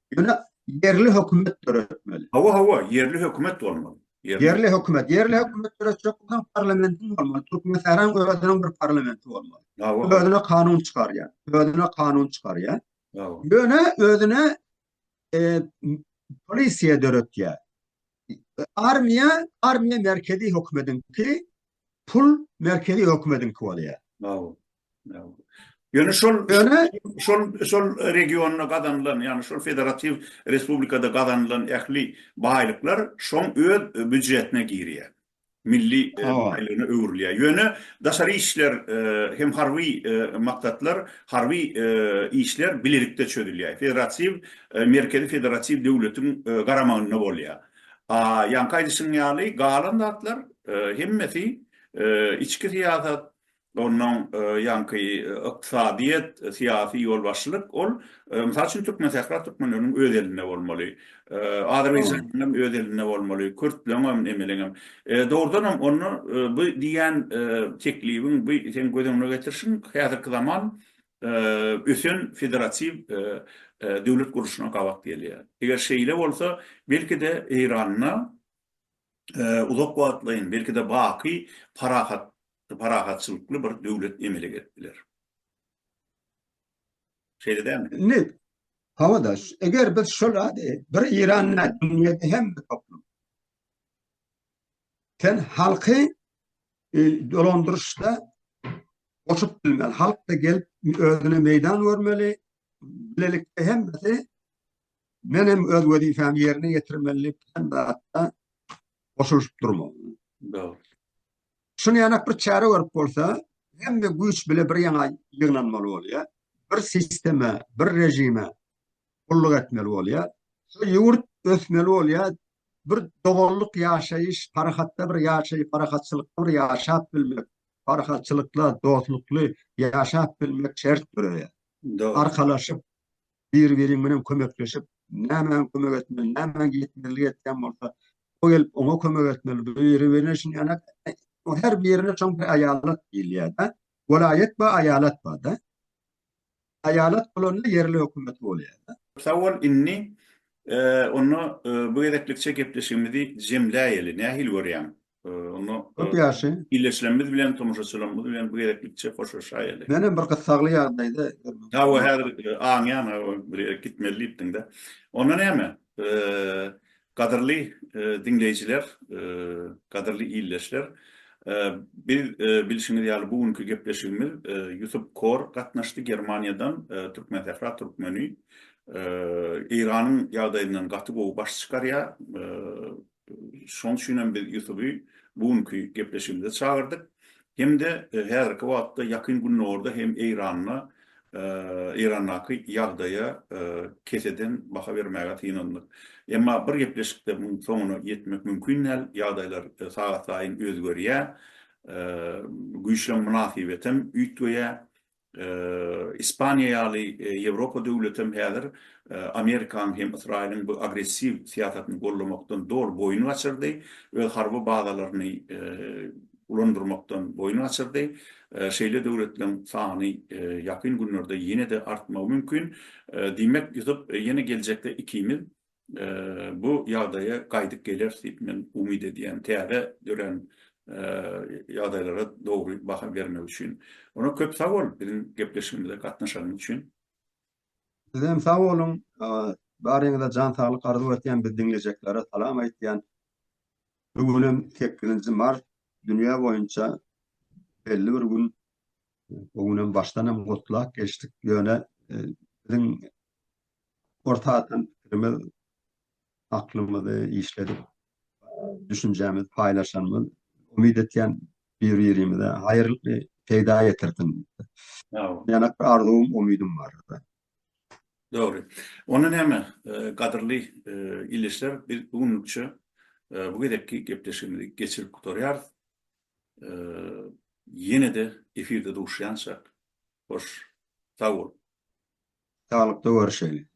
Ýöne ýerli hökümet döretmeli. Hawa, hawa, ýerli hökümet bolmaly. Ýerli hökümet, ýerli hökümet döretjek bolsaň parlamentiň bolmaly, Türkmenistanyň özüniň bir parlamenti bolmaly. Hawa. Özüne kanun çykarýan, özüne kanun çykarýan. Hawa. Ýöne özüne polisiýa döretýär. Armiýa, armiýa merkezi hökümetiňki, pul merkezi hökümetiňki bolýar. Bravo. Bravo. Ýöne şol ýöne şol şol regionda gazanylan, ýagny şol federatiw respublikada gazanylan ähli baýlyklar şoň öz büdjetine girýär. milli baýlygyna öwrülýär. Ýöne daşary işler hem harby maksatlar, harby işler bilelikde çözülýär. Federatiw, merkezi federatiw döwletiň garamagynda bolýar. Ýaňky aýdyşyň ýaly, galan zatlar hemmesi içki syýasat, Onnoň ýaňky ykdysadyýet, syýasy ýolbaşçylyk ol, mysal üçin, Türkmensähra türkmenleriniň öz elinde bolmaly. Azerbaýjanyň hem öz elinde bolmaly, kürtleriň hem, nemeleriň hem. Dogrudan hem, onda bu diýýän teklibiň, bu seň göz öňüne getirişiň häzirki zaman ösen federatiw döwlet gurluşyna gabat gelýär. Eger şeýle bolsa, belki-de, Eýranda uzak wagtlaýyn, belki-de, baky parahat parahatçylykly bir döwlet emele gelip biler. Şeýle dälmi? Indi, hawa daş, eger biz şol zady bir Eýran däl, dünýäde hemme toplum. Sen halky e, dolandyryşda goşup bilmeli, halk da gelip özüne meýdan görmeli, bilelikde hemmesi men hem öz wezipemi ýerine ýetirmeli, sen de hatda goşulyşyp durmaly. Dogry. Şuny ýanak bir çäre görüp bolsa, hemme güýç bile bir ýaňa ýygnanmaly bolýar. Bir sisteme, bir režime gulluk etmeli bolýar. Şu ýurt ösmeli bolýar. Bir doganlyk ýaşaýyş, parahatda bir ýaşaýyp, parahatçylykda bir ýaşap bilmek, parahatçylykda, dostlukly ýaşap bilmek şert döreýär. Arkalaşyp, biri-biriň bilen kömekleşip, nämäň kömek etmeli, nämäň ýetmezlik etýän bolsa, o gelip oňa kömek etmeli, biri-birine şin ýanak, o her birine şoň bir aýalat diýilýär-de, welaýat we aýalat bar-da. Aýalat bolanda ýerli hökümet bolýar-da. Sag bol, indi onda bu gezeklikçe gepleşigimizi jemläýeli, nähili görýäň? Onda köp ýaşy. Illeşilenimiz bilen, tomaşaçylarymyz bilen bu gezeklikçe hoşlaşaýaly. Men hem bir gyssagly ýagdaýda. Hawa, häzir aňýan, bir ýere gitmeli diýipdiň-de. Onda näme? Gadyrly diňleýjiler, gadyrly illeşler, biz bilşiňiz ýaly bu günki gepleşigimiz Ýusup Kor gatnaşdy Germaniýadan, Türkmensähra türkmeni. Eýranyň ýagdaýyndan gaty gowy baş çykarýar. Şonuň üçin hem biz Ýusuby bu günki gepleşigimize çagyrdyk. Hem-de häzirki wagtda Ýakyn Gündogarda hem Eýranda, Eýrandaky ýagdaýa keseden baha bermäge synandyk. Emma bir gepleşikde munuň soňuna ýetmek mümkin däl. Ýagdaýlar sagatlaýyn özgerýär. Güýçleň mynasybetem üýtgeýär. Ispaniýa ýaly Ýewropa döwleti hem häzir Amerikanyň hem Ysraýylyň bu agressiw syýasatyny goldamakdan doly boýun gaçyrdy, öz harby bazalaryny ulandyrmakdan boýun gaçyrdy. Şeýle döwletleriň sany ýakyn günlerde ýene-de artmagy mümkin. Diýmek, ýusup ýene geljekde ikimiz bu ýagdaýa gaýdyp geleris diýip men umyt edýän täze dörän ýagdaýlara dogry baha bermek üçin. Ondan köp sag bol biziň gepleşigimize gatnaşanyň üçin. Siz hem sag boluň. Baryňyza jan saglyk arzuw etýän biz diňlejeklara salam aýtýan. Bu gün hem sekizinji mart dünýä boýunça belli bir gün. Bu gün hem başdan hem gutlap geçdik. Ýöne biziň Orta atan pikirimiz, aklymyzy işledip, düşünjämizi paýlaşanymyz, umyt etýän bir-birimize haýyrly peýda getirsin. Ýanak bir arzuwym, umydym bar. Dogry. Onda näme, gadyrly ildeşler, biz bu günlükçe bu gezekki gepleşigimizi geçirip gutarýarys. Ýene-de efirde duşýançak, hoş sag boluň! Saglykda görüşeli.